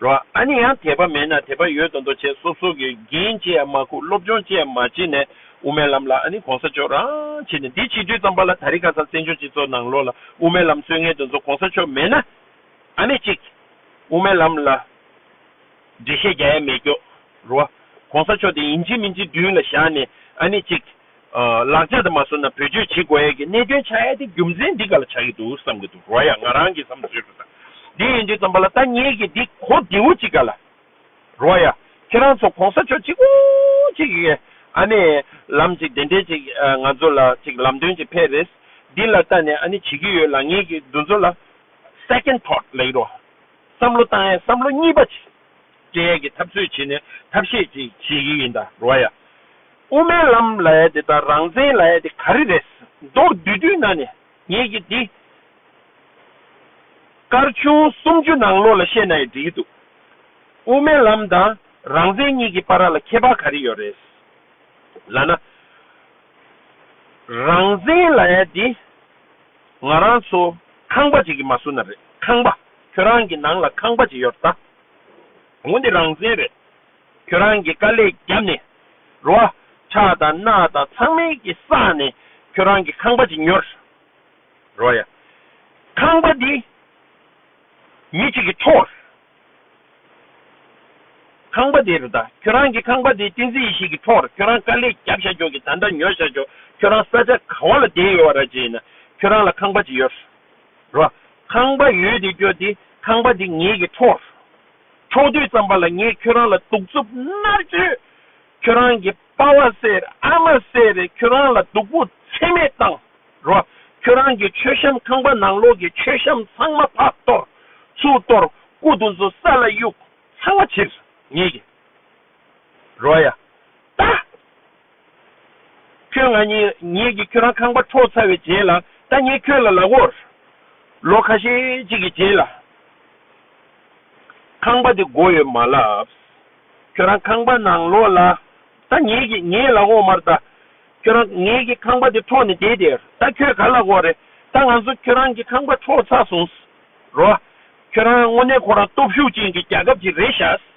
རོ། ཨ་ནི་ཡང་དད་པ་མེད་ན་དད་པ་ཡོད་དོ་འདོ་བྱེད་སོབ་སོབ་ཀྱི་འགན་ཅི་ཡང་མ་ཁུག་སློབ་སྦྱོང་ཅི་ཡང་མ་བྱེད་ནས་དབུ་མའི་ལམ་ལ་ཨ་ནི་གོང་ས་མཆོག་རང་བྱེད་ནས་འདི་བྱིས་དུས་ཙམ་པ་ལ་ད་རི་ག་ས་བཙན་བྱོལ་སྤྱི་ཚོགས་ནང་ལོག་ལ་དབུ་མའི་ལམ་སྲོལ་ངན་དོན་ཚོ་གོང་ས་མཆོག་མེད་ན་ཨ་མེད་ཅིག་དབུ་མའི་ལམ་ལ་འགྲེལ་བཤད་རྒྱ་ཡ་མེད་ཀྱོག་རོ། གོང་ས་མཆོག་དེ་ཡིན་གཅིག་མིན་གཅིག་མདུན་ལ་བཞག་ནས་ཨ་མེད་ཅིག། ལག་ཆ་དེ་མ་བཟོ་ན་བེད་སྤྱོད་བྱེད་དགོས་ཡས་ཀྱི་གནད་དོན་ཆགས་ཡས་དེ་རྒྱུ་མཚན་འདི་ག་ལ་ཆགས་ཀྱི་འདུག་བསམ་གྱི་འདུག་རོ་ཡ་ང་རང་གི་བསམ་ཚུལ་རེད་ད། དེ་ཡིན་དུས་བསམ་པ་ལ་ད་ངེད་ཀྱི་འདི་གོ་བདེ་བོ་ཅིག་ག་ལ། རོ་ཡ། ཁྱེད་རང་ཚོ་གོང་ས་མཆོག་གཅིག་པོ་གཅིག་གི་ཨ་ནི་ལམ་ཅིག་བདེན་བྲལ་ཅིག་ང་ཚོ་ལ་ཅིག་ལམ་སྟོན་ཅིག་ཕེབས་རེས་འདི་ལ་ད་ནི་ཨ་ནི་བྱེད་ཀྱི་ཡོད་ལ་ངེད་ཀྱི་འདུ་འཛོ་ལ Second thought ལེགས་རོ་བསམ་བློ་བཏང་ཡས་བསམ་བློ་གཉིས་པ་ཅིག། སྐྱེ་ཡས་ཀྱི་ཐབས་ཚུལ་བྱེད་ནས་ཐབས་ཤེས་ཀྱིས་བྱེད་ཀྱི་ཡིན་ད་རོ་ཡ། དབུ་མའི་ལམ་ལ་ཡ་དེ་དང་རང་བཙན་ལ་ཡ་དེ་ག་རེ་རེད། མདོར་བསྡུས་དུས་ན་ནས་ངེད་ཀྱིས་འདི། སྐར་ཆུང་སུམ་ཅུ་ནང་ལོགས་ལ་བཤད་ན་ཡི་འགྲིག་གི་འདུག་དབུ་མའི་ལམ་དང་རང་བཙན་གཉིས་ཀྱི་པ་ར་ལ་ཁྱད་པར་ག་རེ་ཡོད་རེད། ལ་ན། རང་བཙན་ལ་ཡ་དེ། ང་རང་ཚོ་ཁང་པ་ཅིག་གི་མ་སུ་ན་རེད་ཁང་པ་ཁྱོད་རང་གི་ནང་ལ་ཁང་པ་ཅིག་ཡོད་རེད་ད། འོ་འདི་རང་བཙན་རེད། ཁྱོད་རང་གི་དཀའ་ལས་བརྒྱབ་ནས་རོ། ཁྲག་དང་སྣག་དང་ཚང་མའི་གི་བསགས་ནས་ཁྱོད་རང་གི་ཁང་པ་ཅིག་ཉོ། རོ་ཡ། ཁང་པ་འདི། མི་གཅིག་གི་ཐོག། ཁང་པ་འདི་རེད་ད་ཁྱོད་རང་གི་ཁང་པ་འདི་བསྟན་འཛིན་ཡེ་ཤེས་ཀྱི་ཐོག་རེད་ཁྱོད་རང་དཀའ་ལས་བརྒྱབ་བཞག་ཀྱོག་གི་ད་འདྲ་ཉོ་བཞག་ཀྱོག་ཁྱོད་རང་ས་ཆ་གང་བ་ལ་བསྡད་ཡོད་བ་ར་བྱས་ཡིན་ན་ཁྱོད་རང་ལ་ཁང་པ་ཅིག་ཡོད། རོ། ཁང་པ་ཡོད་དེ་སྐྱོ་སྟེ་ཁང་པ་འདི་ངེད་ཀྱི་འཕྲོག་སོང། འཕྲོག་དུས་ཙམ་པ་ལ་ངས་ཁྱོད་རང་ལ་གདུག་རྩུབ་མནར་གཅོད། ཁྱོད་རང་གི་དཔའ་བ་སེར་ཨ་མ་སེར་རས་ཁྱོད་རང་ལ་སྡུག་པོ་ཚད་མེད་བཏང། རོ། ཁྱོད་རང་གི་མཆོད་བཤམས་ཁང་པ་ནང་ལོགས་ཀྱི་མཆོད་བཤམས་ཚང་མ་ཕག་གཏོར། ཚུར་གཏོར། སྐུ་གདུང་ཚོ་ས་ལ་གཡུགས། ཚང་མ་ཕྱིར། ངེད་ཀྱི། རོ། ཡ། ལྟ། ཁྱོད་ང་གཉིས་ངེད་ཀྱིས་ཁྱོད་རང་ཁང་པ་འཕྲོག་ཚར་བའི་རྗེས་ལ་ད་ངས་ཁྱོད་ལ་ལག་འོར། ལོ་ཁ་ཤས་ཅིག་གི་རྗེས་ལ། ཁང་པ་དེ་བགོ་ཡོད་མ་ལབས། ཁྱོད་རང་ཁང་པ་ནང་ལོག་ལ། ད་ངེད་ཀྱིས་ངའི་ལག་འོག་མར་ད་ཁྱོད་རང་ངེད་ཀྱི་ཁང་པ་དེ་འཕྲོག་ནས་བསྡད་དེ་ད་ཁྱོད་ག་ལ་གོ་རེད་ད་ང་ཚོ་ཁྱོད་རང་གི་ཁང་པ་འཕྲོག་ཚར་སོང། རོ། ཁྱོད་རང་དངོས་གནས་ཁོ་རང་སྟོབས་ཤུགས་ཅན་གྱི་རྒྱལ་ཁབ་ཅིག་རེད་ཤག།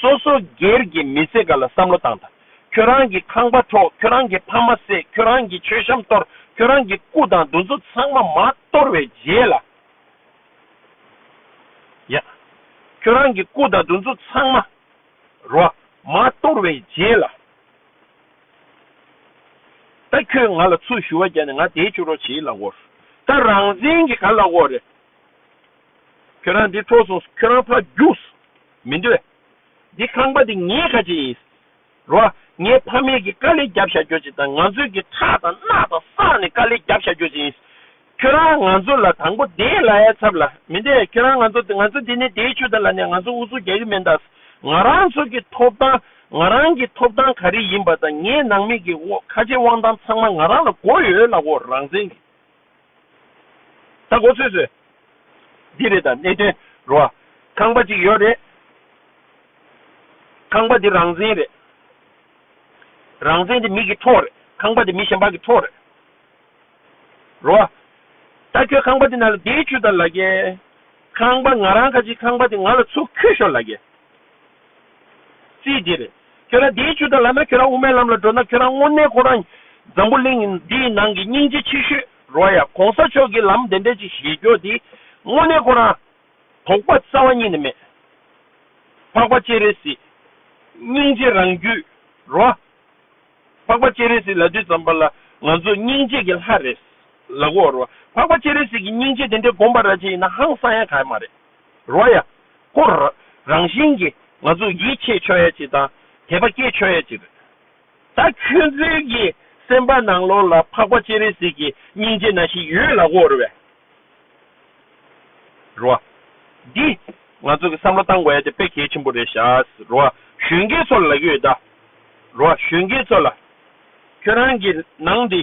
སོ་སོ་སྒེར་གྱི་མི་ཚེ་འགའ་ལ་བསམ་བློ་བཏང་དང། ཁྱོད་རང་གི་ཁང་པ་འཕྲོག་ཁྱོད་རང་གི་ཕ་མ་བསད་ཁྱོད་རང་གི་མཆོད་བཤམས་གཏོར་ཁྱོད་རང་གི་སྐུ་དང་འདུ་འཛོ་ཚང་མ་མ་གཏོར་བའི་རྗེས་ལ། ཡ། ཁྱོད་རང་གི་སྐུ་དང་འདུ་འཛོ་ཚང་མ། རོ། མ་གཏོར་བའི་རྗེས་ལ། ད་ཁྱོད་ང་ལ་ཚུར་ཞུ་བ་བརྒྱབ་ནས་ང་དེའི་ཕྱུགས་རོགས་བྱེད་ལ་འོར། ད་རང་བཙན་གྱི་ག་ལ་འོར། ཁྱོད་རང་འདི་ཐོས་སོང་ཁྱོད་རང་ཕ་རྒྱུགས། མི་འདོད། འདི་ཁང་པ་འདི་ངའི་ཁ་ཆེ་ཡིན། རོ། ངའི་ཕ་མེས་ཀྱི་དཀའ་ལས་རྒྱབ་བཞག་རྒྱོ་ཅིག་དང་ང་ཚོས་ཀྱི་ཁྲག་དང་རྣག་དང་བསགས་ནས་དཀའ་ལས་རྒྱབ་བཞག་རྒྱོ་ཅིག་ཡིན། ཁྱོད་རང་ང་ཚོ་ལ་དང་པོ་དེའི་ལ་ཡའི་ཚབ་ལ་མི་འདེད་ཁྱོད་རང་ང་ཚོ་ང་ཚོ་འདི་ནས་དེའི་ཆུ་དང་ལ་ནས་ང་ཚོ་འུ་ཚོ་རྒྱག་གི་མེད་ད། ང་རང་ཚོ་གི་ཐོབ་ཐང་ང་རང་གི་ཐོབ་ཐང་ག་རེ་ཡིན་པ་དང་ངའི་ནང་མི་གི་ཁ་ཆེ་དབང་ཐང་ཚང་མ་ང་རང་ལ་གོ་ཡོད་ལ་གོ་རང་བཙན་གི། ད་གོ་ཚོད་ཚོད། འདི་རེད་ད་གནད་དོན་རོ་ཨ། ཁང་པ་གཅིག་ཡོད་རེད། ཁང་པ་འདི་རང་བཙན་རེད། རང་བཙན་འདི་མིག་གི་ཐོག་རེད། ཁང་པ་འདི་མི་གཞན་པག་གི་ཐོག་རེད། རོ་ཨ། ད་ཁྱོད་ཁང་པ་འདི་ན་ལ་འདེད་ཆུ་ད་ལ་རྒྱལ། ཁང་པ་ང་རང་ཁ་ཅིག་ཁང་པ་འདི་ང་ལ་ཚུགས་ཁྱོད་ཤོར་ལ་རྒྱལ། ཚེ་འདིར་ཁྱོད་རང་དེའི་ཆོས་དང་ལགས་ན་ཁྱོད་རང་དབུ་མའི་ལམ་ལ་འགྲོ་ན་ཁྱོད་རང་དངོས་གནས་ཁོ་རང་འཛམ་བུ་གླིང་འདིའི་ནང་གི་སྙིང་རྗེ་ཆེ་ཤོས་རོལ་ཡ་གོང་ས་མཆོག་གི་ལམ་དེ་འདྲ་ཅིག་བཞེས་རྒྱོ་དེ་དངོས་གནས་ཁོ་རང་དོགས་པ་རྩ་བ་ཉིད་ནས་མེད་འཕགས་པ་སྤྱན་རས་གཟིགས་སྙིང་རྗེ་རང་རྒྱུད་རོལ་ཨ། འཕགས་པ་སྤྱན་རས་གཟིགས་ལ་དུས་ཙམ་པ་ལ་ང་ཚོ་སྙིང་རྗེ་གི་ལྷ་རེད་ལབ་འོ་རོ་འཕགས་པ་སྤྱན་རས་གཟིགས་ཀྱི་སྙིང་རྗེ་དེ་འདྲ་སྒོམ་པ་ར་ཅན་ཡིན་ན་ཧང་སང་ཡ་ག་ཡ་མ་རེད། རོ་ཡ། ཧོ། རང་བཞིན་གྱིས་ང་ཚོས་ཡིད་ཆེས་ཆོས་ཡ་གཅིག་དང་དད་པ་སྐྱེས་ཆོས་ཡ་གཅིག་རེད། ད་ཁྱོད་ཚོའི་གི་སེམས་པ་ནང་ལོག་ལ་འཕགས་པ་སྤྱན་རས་གཟིགས་ཀྱི་སྙིང་རྗེ་ན་ཞིག་ཡོད་ལ་འོ་རེད། རོ། འདི་ང་ཚོ་གི་བསམ་བློ་བཏང་དགོས་ཡ་དེ་དཔེ་གལ་ཆེན་པོ་རེད་ཤ། རོ། གཞོན་སྐྱེས་ཚོ་ལ་ལ་གི་ཡོད་ད། རོ། གཞོན་སྐྱེས་ཚོ་ལ། ཁྱོད་རང་གི་ནང་འདི།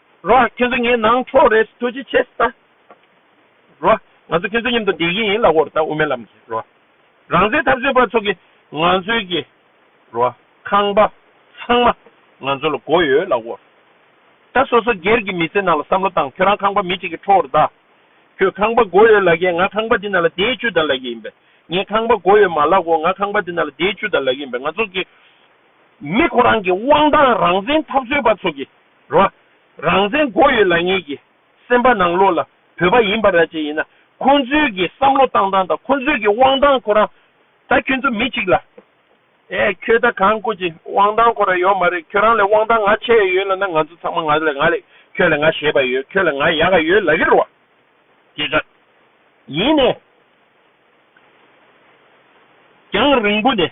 རོ། ཁྱོད་ཚོ་ངའི་ནང་ཆོག་རེ་ཟོ་ཅི་བྱེད་ཟེར་ད། རོ། ང་ཚོ་ཁྱོད་ཚོ་མཉམ་དུ་བསྡད་ཀྱི་ཡིན་ལ་འོར་ད་དབུ་མའི་ལམ་གྱི་རོ། རང་བཙན་འཐབ་རྩོད་པ་ཚོ་གི་ང་ཚོའི་གི་རོ། ཁང་པ། ཚང་མ། ང་ཚོ་ལ་མགོ་ཡོད་ལ་འོར་ད་སོ་སོ་སྒེར་གྱི་མི་ཚེ་ནང་ལ་བསམ་བློ་བཏང་ཁྱོད་རང་ཁང་པ་མི་གཅིག་གི་འཕྲོ་འོར་ད། ཁྱོད་ཁང་པ་མགོ་ཡོད་ལ་གི་ང་ཁང་པ་འདི་ནང་ལ་བསྡད་ཅུ་ད་ལ་གི་ཡིན་པས་ངས་ཁང་པ་མགོ་ཡོད་མ་ལག་གོ་ང་ཁང་པ་འདི་ནང་ལ་བསྡད་ཅུ་ད་ལ་གི་ཡིན་པས་ང་ཚོ་གི་མི་ཁོ་རང་གི་དབང་ཐང་རང་བཙན་འཐབ་རྩོད་པ་ཚོ་གི། རོ། རང་བཙན་མགོ་ཡོད་ལག་ཉེས་ཀྱི་སེམས་པ་ནང་ལོགས་ལ་བོད་པ་ཡིན་པ་ར་ཅན་ཡིན་ན་ཁོང་ཚོའི་གི་བསམ་བློ་བཏང་སྟངས་དང་ཁོང་ཚོའི་གི་དབང་ཐང་ཁོ་རང་ད་ཁྱོད་ཚོ་མི་གཅིག་ལ་ཨེ་ཁྱོད་ད་གང་སྐུ་ཅི་དབང་ཐང་ཁོ་ར་ཡོད་མ་རེད་ཁྱོད་རང་ལས་དབང་ཐང་ང་ཆེ་ཡ་ཡོད་ལ་ན་ང་ཚོ་ཚང་མ་ང་ལ་ང་ལས་ཁྱོད་ལ་ང་ཞེས་པ་ཡོད་ཁྱོད་ལ་ང་ཡག་ག་ཡོད་ལ་གི་རོ་ཀྱེ་ཀ་ཡིན་ནས་ཀྱང་རིང་པོ་ནས།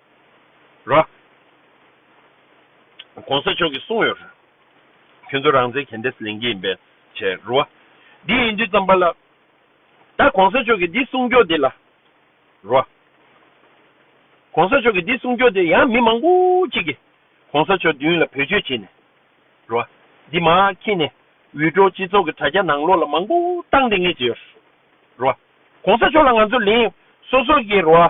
རོ། གོང་ས་མཆོག་གིས་གསུངས་ཡོད། ཁྱོད་ཚོ་རང་བཙན་གན་དེས་ལེན་གྱི་ཡིན་པས་བྱས། རོ། འདི་ཡིན་དུས་བརྩམས་པ་ལ། ད་གོང་ས་མཆོག་གིས་འདི་གསུངས་རྒྱུ་དེ་ལ། རོ། གོང་ས་མཆོག་གིས་འདི་གསུངས་རྒྱུ་དེ་ཡང་མི་མང་པོ་གཅིག་གིས་གོང་ས་མཆོག་མདུན་ལ་བོད་སྤྱོད་བྱས་ནས། རོ། འདི་མ་ཁྱེད་ནས་འུད་སྒྲོག་སྤྱི་ཚོགས་ཀྱི་དྲ་རྒྱ་ནང་ལོག་ལ་མང་པོ་བཏང་དེ་ངས་བྱས་ཡོད། རོ། གོང་ས་མཆོག་ལ་ང་ཚོ་ལེན་སོ་སོ་གྱིས་རོ།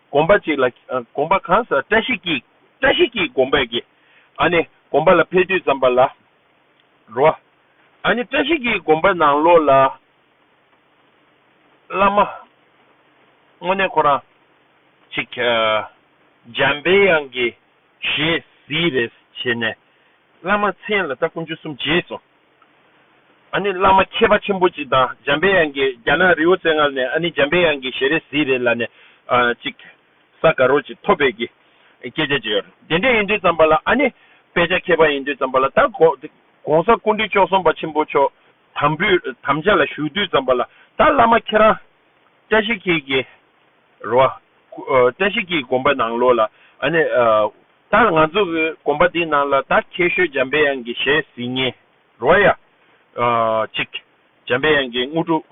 བསྒོམ་པ་གཅིག་ལ། བསྒོམ་པ་གང་ཟག་བཀྲ་ཤིས་ཀྱིས། བཀྲ་ཤིས་ཀྱིས་བསྒོམ་པས་དགེ། ཨ་ནི། བསྒོམ་པ་ལ་འཕེལ་དུས་ཙམ་པ་ལ། རོ། ཨ་ནི་བཀྲ་ཤིས་ཀྱིས་བསྒོམ་པ་ནང་ལོགས་ལ། བླ་མ། དངོས་གནས་ཁོ་རང། ཅིག། འཇམ་དཔལ་དབྱངས་ཀྱི། ཞེས་གཟིགས་རེས་བྱས་ནས། བླ་མ་མཚན་ལ་བལྟ་ཀུན་སྤྱོད་གསུམ་རྗེས་སུ། ཨ་ནི་བླ་མ་མཁས་པ་ཆེན་པོ་ཅིག་དང་འཇམ་དཔལ་དབྱངས་ཀྱི་རྒྱ་ནག་རི་བོ་རྩེ་ལྔར་ནས་ཨ་ནི་འཇམ་དཔལ་དབྱངས་ཀྱི་ཞལ་རས་གཟིགས་རེ་ལ་ནས་ཅིག་ས་དགའ་རོགས་ཅིག་ཐོབ་པའི་གི་སྐད་ཆ་བརྗོད་ཡོད་དེ་འདྲས་ཡིན་དུས་ཙམ་པ་ལ་ཨ་ནི་དཔེ་ཆ་མཁས་པ་ཡིན་དུས་ཙམ་པ་ལ་ད་གོང་ས་ཀུན་འདུས་ཅོག་གསུམ་པ་ཆེན་པོ་མཆོག་དམ་བུས་དམ་བཅའ་ལ་བཞུགས་དུས་ཙམ་པ་ལ་ད་བླ་མ་ཁྱེད་རང་བཀྲ་ཤིས་འཁྱིལ་གྱི་རོ་བཀྲ་ཤིས་འཁྱིལ་གྱི་དགོན་པ་ནང་ལོགས་ལ་ཨ་ནི། ད་ང་ཚོ་གི་དགོན་པ་འདིའི་ནང་ལ་ད་ཁྱེད་ཤོད་འཇམ་པའི་དབྱངས་ཀྱི་ཞལ་གཟིགས་ཉེ་རོ་ཡ། ཅིག། འཇམ་པའི་དབྱངས་ཀྱི་དངོས་གྲུབ།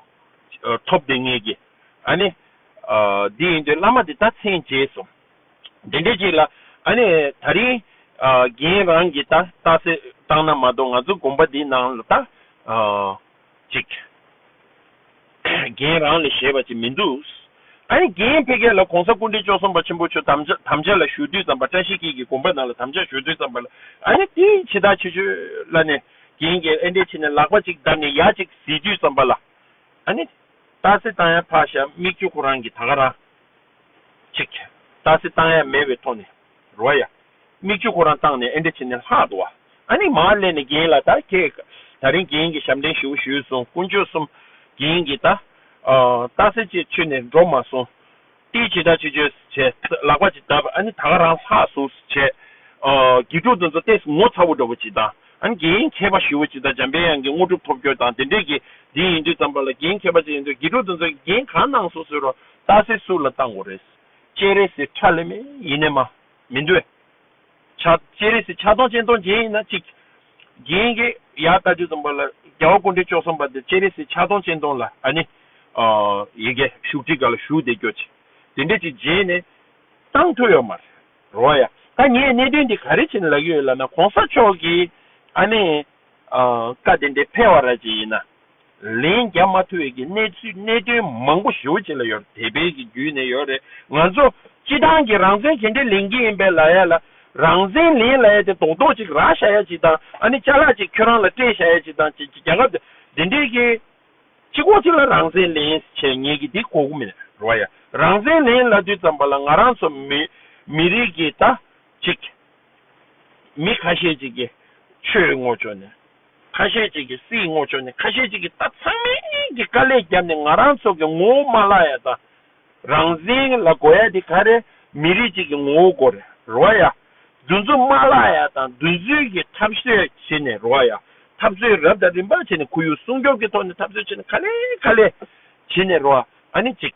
ཐོབ་བདེ་ངེས་ཀྱི། ཨ་ནི། འདི་ཡིན་དུས་བླ་མ་འདི་ད་མཚན་བརྗེས་སོང། དེ་འདྲའི་ཅིག་ལ། ཨ་ནི། ད་རིང། རྒན་རང་གིས་ད་ལྟ་སེ་བཏང་ན་མ་གཏོགས་ང་ཚོ་དགོན་པ་འདིའི་ནང་ལ་ད། ཅིག། རྒན་རང་ལས་བྱེད་པ་ཅིག་མི་འདུག། ད་ནི་རྒན་ཕལ་སྐད་ལ་གོང་ས་སྐུ་འདྲེ་བཅོ་གསུམ་པ་ཆེན་པོ་ཆོས་དམ་བཅའ་ལ་ཞུ་དུས་ཙམ་པ་བཀྲ་ཤིས་སྐྱིད་ཀྱི་དགོངས་པ་ནང་ལ་དམ་བཅའ་ཞུ་དུས་ཙམ་པ་ལ་ཨ་ནི་དེ་ཇི་ལྟར་བྱེད་ཆོས་ལ་ནས་རྒན་རྒྱལ་ཨེ་འདྲེ་བྱས་ནས་ལག་པ་ཅིག་བརྡབས་ནས་ཡག་ཅིག་བཟི་དུས་ཙམ་པ་ལ་ཨ་ནི། ཏཱ་སི་ཏཱ་ཡ་ཕག་ཞབས་མིག་ཆུ་ཁོ་རང་གི་ད་ག་རང། ཅིག། ཏཱ་སི་ཏཱ་ཡ་མེད་པའི་ཐོག་ནས། རོ་ཡ། མིག་ཆུ་ཁོ་རང་བཏང་ནས་ཨེ་འདྲ་བྱས་ནས་ལྷག་འདུག་བ། ཨ་ནི་མར་སླེབས་ནས་རྒན་ལ་ད་ཁྱེད། ད་རིང་རྒན་གྱིས་ཞབས་འདྲེན་ཞུ་བོ་ཞུས་སོང་དཀོན་མཆོག་གསུམ། རྒན་གྱིས་ད། རྟགས་གསལ་བྱེད་ཆུ་ནས་འགྲོ་མ་སོང། ཏིའི་ཇི་ལྟར་བྱེད་བྱོས་བྱས། ལག་པ་ཇི་ལྟར་བབས་ཨ་ནི་ད་ག་རང་ལྷག་ཟུག་སུ་བྱས། དགེ་ཕྲུག་དང་ཚོ་ལྟས་སུ་ངོ་ཚ་བོ་འགྲོ་བོ་བྱེད་དང་ཨ་ནི་རྒན་ཡིན་མཁས་པ་ཞུ་བོ་བྱེད་ད་འཇམ་དཔལ་དབྱངས་ཀྱིས་དངོས་གྲུབ་ཐོབ་བྱོས་དང་དེ་འདྲས་ཀྱིས་འདི་ཡིན་དུས་ཙམ་པ་ལ་རྒན་མཁས་པ་ཅིག་ཡིན་དུས་དགེ་ཕྲུག་དང་ཚོ་གིས་རྒན་གང་གནང་སོང་ཟེར་རོ་རྟགས་གསལ་སུ་ལ་བཏང་བོ་རེད། སྤྱན་རས་གཟིགས་ཁྲ་ལེ་མེ་ཡིན་ནས་མ། མི་འདོད། བྱ། སྤྱན་རས་གཟིགས་ཕྱག་སྟོང་སྤྱན་སྟོང་རྒྱན་ཡིན་ན་གཅིག། རྒྱན་གྱི་ཡ་ད་རྒྱུ་ཙམ་པ་ལ་རྒྱལ་བ་ཀུན་འདྲེ་བཅོ་གསུམ་པ་འདི་སྤྱན་རས་གཟིགས་ཕྱག་སྟོང་སྤྱན་སྟོང་ལ་ཨ་ནི། ཡི་གེ་བཞུགས་ཁྲི་ག་ལ་བཞུགས་དེ་ཀྱོ་ཅི། དེ་འདྲས་ཀྱི་རྗེས་ནས། གཏང་ཐོས་ཡོད་མ། རོ་ཡ། ད་ངས་གནད་དོན་འདི་ག་རེ་བྱས་ནས་ལག་གི་ཡོད་ལབ་ན་གོང་ས་མཆོག་གིས་ཨ་ནི། བཀའ་བདེན་པའི་ཕེ་བ་ར་ཅན་ཡིན་ན། ལན་རྒྱབ་མ་ཐུབ་བས་ཀྱི་གནས་ཚུལ་གནད་དོན་མང་པོ་ཞུ་བྱེད་ལ་ཡོད་དེ་བས་ཀྱི་བརྒྱུད་ནས་ཡོད་རེད་ང་ཚོ་སྤྱི་དང་གྱི་རང་བཙན་གྱེན་འདྲེ་ལེན་གྱི་ཡིན་པས་ལ་ཡ་ལ་རང་བཙན་ལེན་ལ་ཡ་དེ་དོག་དོག་ཅིག་རག་ཤ་ཡ་ཅིག་དང་ཨ་ནི་ཅ་ལག་ཅིག་ཁྱོད་རང་ལ་སྤྲད་ཤ་ཡ་ཅིག་དང་ཅིག་ཅིག་རྒྱ་ཁབ་དེ་དེ་འདྲེ་གྱི་ཅིག་གོ་ཅིག་ལ་རང་བཙན་ལེན་བྱེད་ངེས་ཀྱི་དེ་གོ་གི་མེད་རོ་ཡ་རང་བཙན་ལེན་ལ་དུས་ཙམ་པ་ལ་ང་རང་ཚོ་མི་མི་རིགས་ཀྱི་ད། ཅིག། མི་ཁ་ཤས་ཅིག་གིས་ཆོས་བསྔོག་ཆོག་ནས། ཁ་ཤས་ཅིག་གིས་སྲིད་བསྔོག་ཆོག་ནས་ཁ་ཤས་ཅིག་གིས་ད་ཚང་མས་ཀྱི་དཀའ་ལས་བརྒྱབ་ནས་ང་རང་ཚོ་གི་ངོ་བོ་མ་ལག་ཡ་དང་རང་བཞིན་ལ་གོ་ཡ་དེ་ག་རེ་མི་རིགས་ཅིག་གི་ངོ་བོ་གོ་རེ་རོ་ཡ། འདུ་འཛོམས་མ་ལག་ཡ་དང་འདུ་འཛོལ་གྱི་འཐབ་རྩོད་བྱེད་ནས་རོ་ཡ། འཐབ་རྩོད་རབ་དང་རིམ་པ་བྱེད་ནས་ཁོར་ཡུག་སྲུང་སྐྱོབ་ཀྱི་ཐོག་ནས་འཐབ་རྩོད་བྱེད་ནས་ག་ལེ་ག་ལེ་བྱེད་ནས་རོ་ཨ་ནི་ཅིག།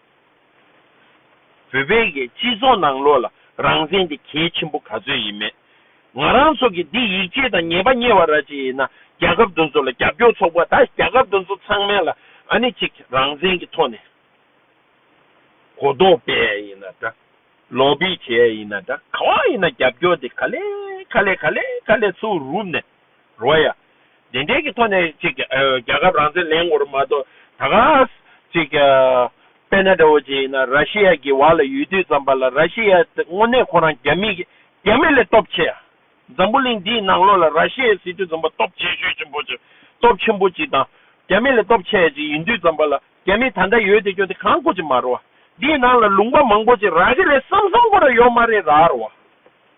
བོད་པའི་སྤྱི་ཚོགས་ནང་བློ་ལ་རང་བཙན་དེ་གལ་ཆེན་པོ་ག་ཚོད་ཡིན་མེད། ང་རང་ཚོ་གིས་འདི་ཡིག་ཆས་དང་ཉེས་པ་གཉེར་བ་ར་ཅིག་ཡིན་ན་རྒྱ་ཁབ་འདུ་ཚོ་ལ་རྒྱབ་སྐྱོར་ཚོགས་པ་དང་རྒྱ་ཁབ་འདུ་ཚོ་ཚང་མའི་ལ་ཨ་ནི་ཅིག་རང་བཙན་གྱི་ཐོག་ནས་གོ་རྟོགས་སྤེལ་ཡས་ཡིན་ན་འདྲ། ལོག་པི་བྱེད་ཡས་ཡིན་ན་འདྲ་གང་ཡིན་ན་རྒྱབ་སྐྱོར་དེ་ག་ལེ་ག་ལེ་ག་ལེ་ག་ལེ་ཚོ་རུབ་ནས། རོ་ཡ། དེ་འབྲེལ་གྱི་ཐོག་ནས་ཅིག་རྒྱལ་ཁབ་རང་བཙན་ལེན་ངོར་མ་གཏོགས་ད་གཟ། ཅིག། པེ་ན་ཏའོ་ཅེ་ཡིན་ན་ར་ཤི་ཡ་གྱི་བར་ལ་ཡུལ་དུས་ཙམ་པ་ལ་ར་ཤི་ཡ་དངོས་གནས་ཁོ་རང་རྒྱ་མི། རྒྱ་མི་ལས་སྟོབས་ཆེ་ཡ། འཛམ་བུ་གླིང་འདིའི་ནང་ལོགས་ལ་ར་ཤི་ཡའི་སྲིད་དུས་ཙམ་པ་སྟོབས་ཆེ་ཤོས་ཆེན་པོ་ཅིག་སྟོབས་ཆེན་པོ་ཅིག་དང། རྒྱ་མི་ལས་སྟོབས་ཆེ་ཡ་ཅིག་ཡིན་དུས་ཙམ་པ་ལ་རྒྱ་མི་ད་འདྲ་ཡོད་དེ་སྐྱོ་དེ་གང་ཀོ་ཅིག་མ་རོ། འདིའི་ནང་ལ་ལུང་པ་མང་པོ་ཅིག་རག་གི་རེད་བསམ་བསམ་ཀོ་ར་ཡོད་མ་རེད་ར་རོ།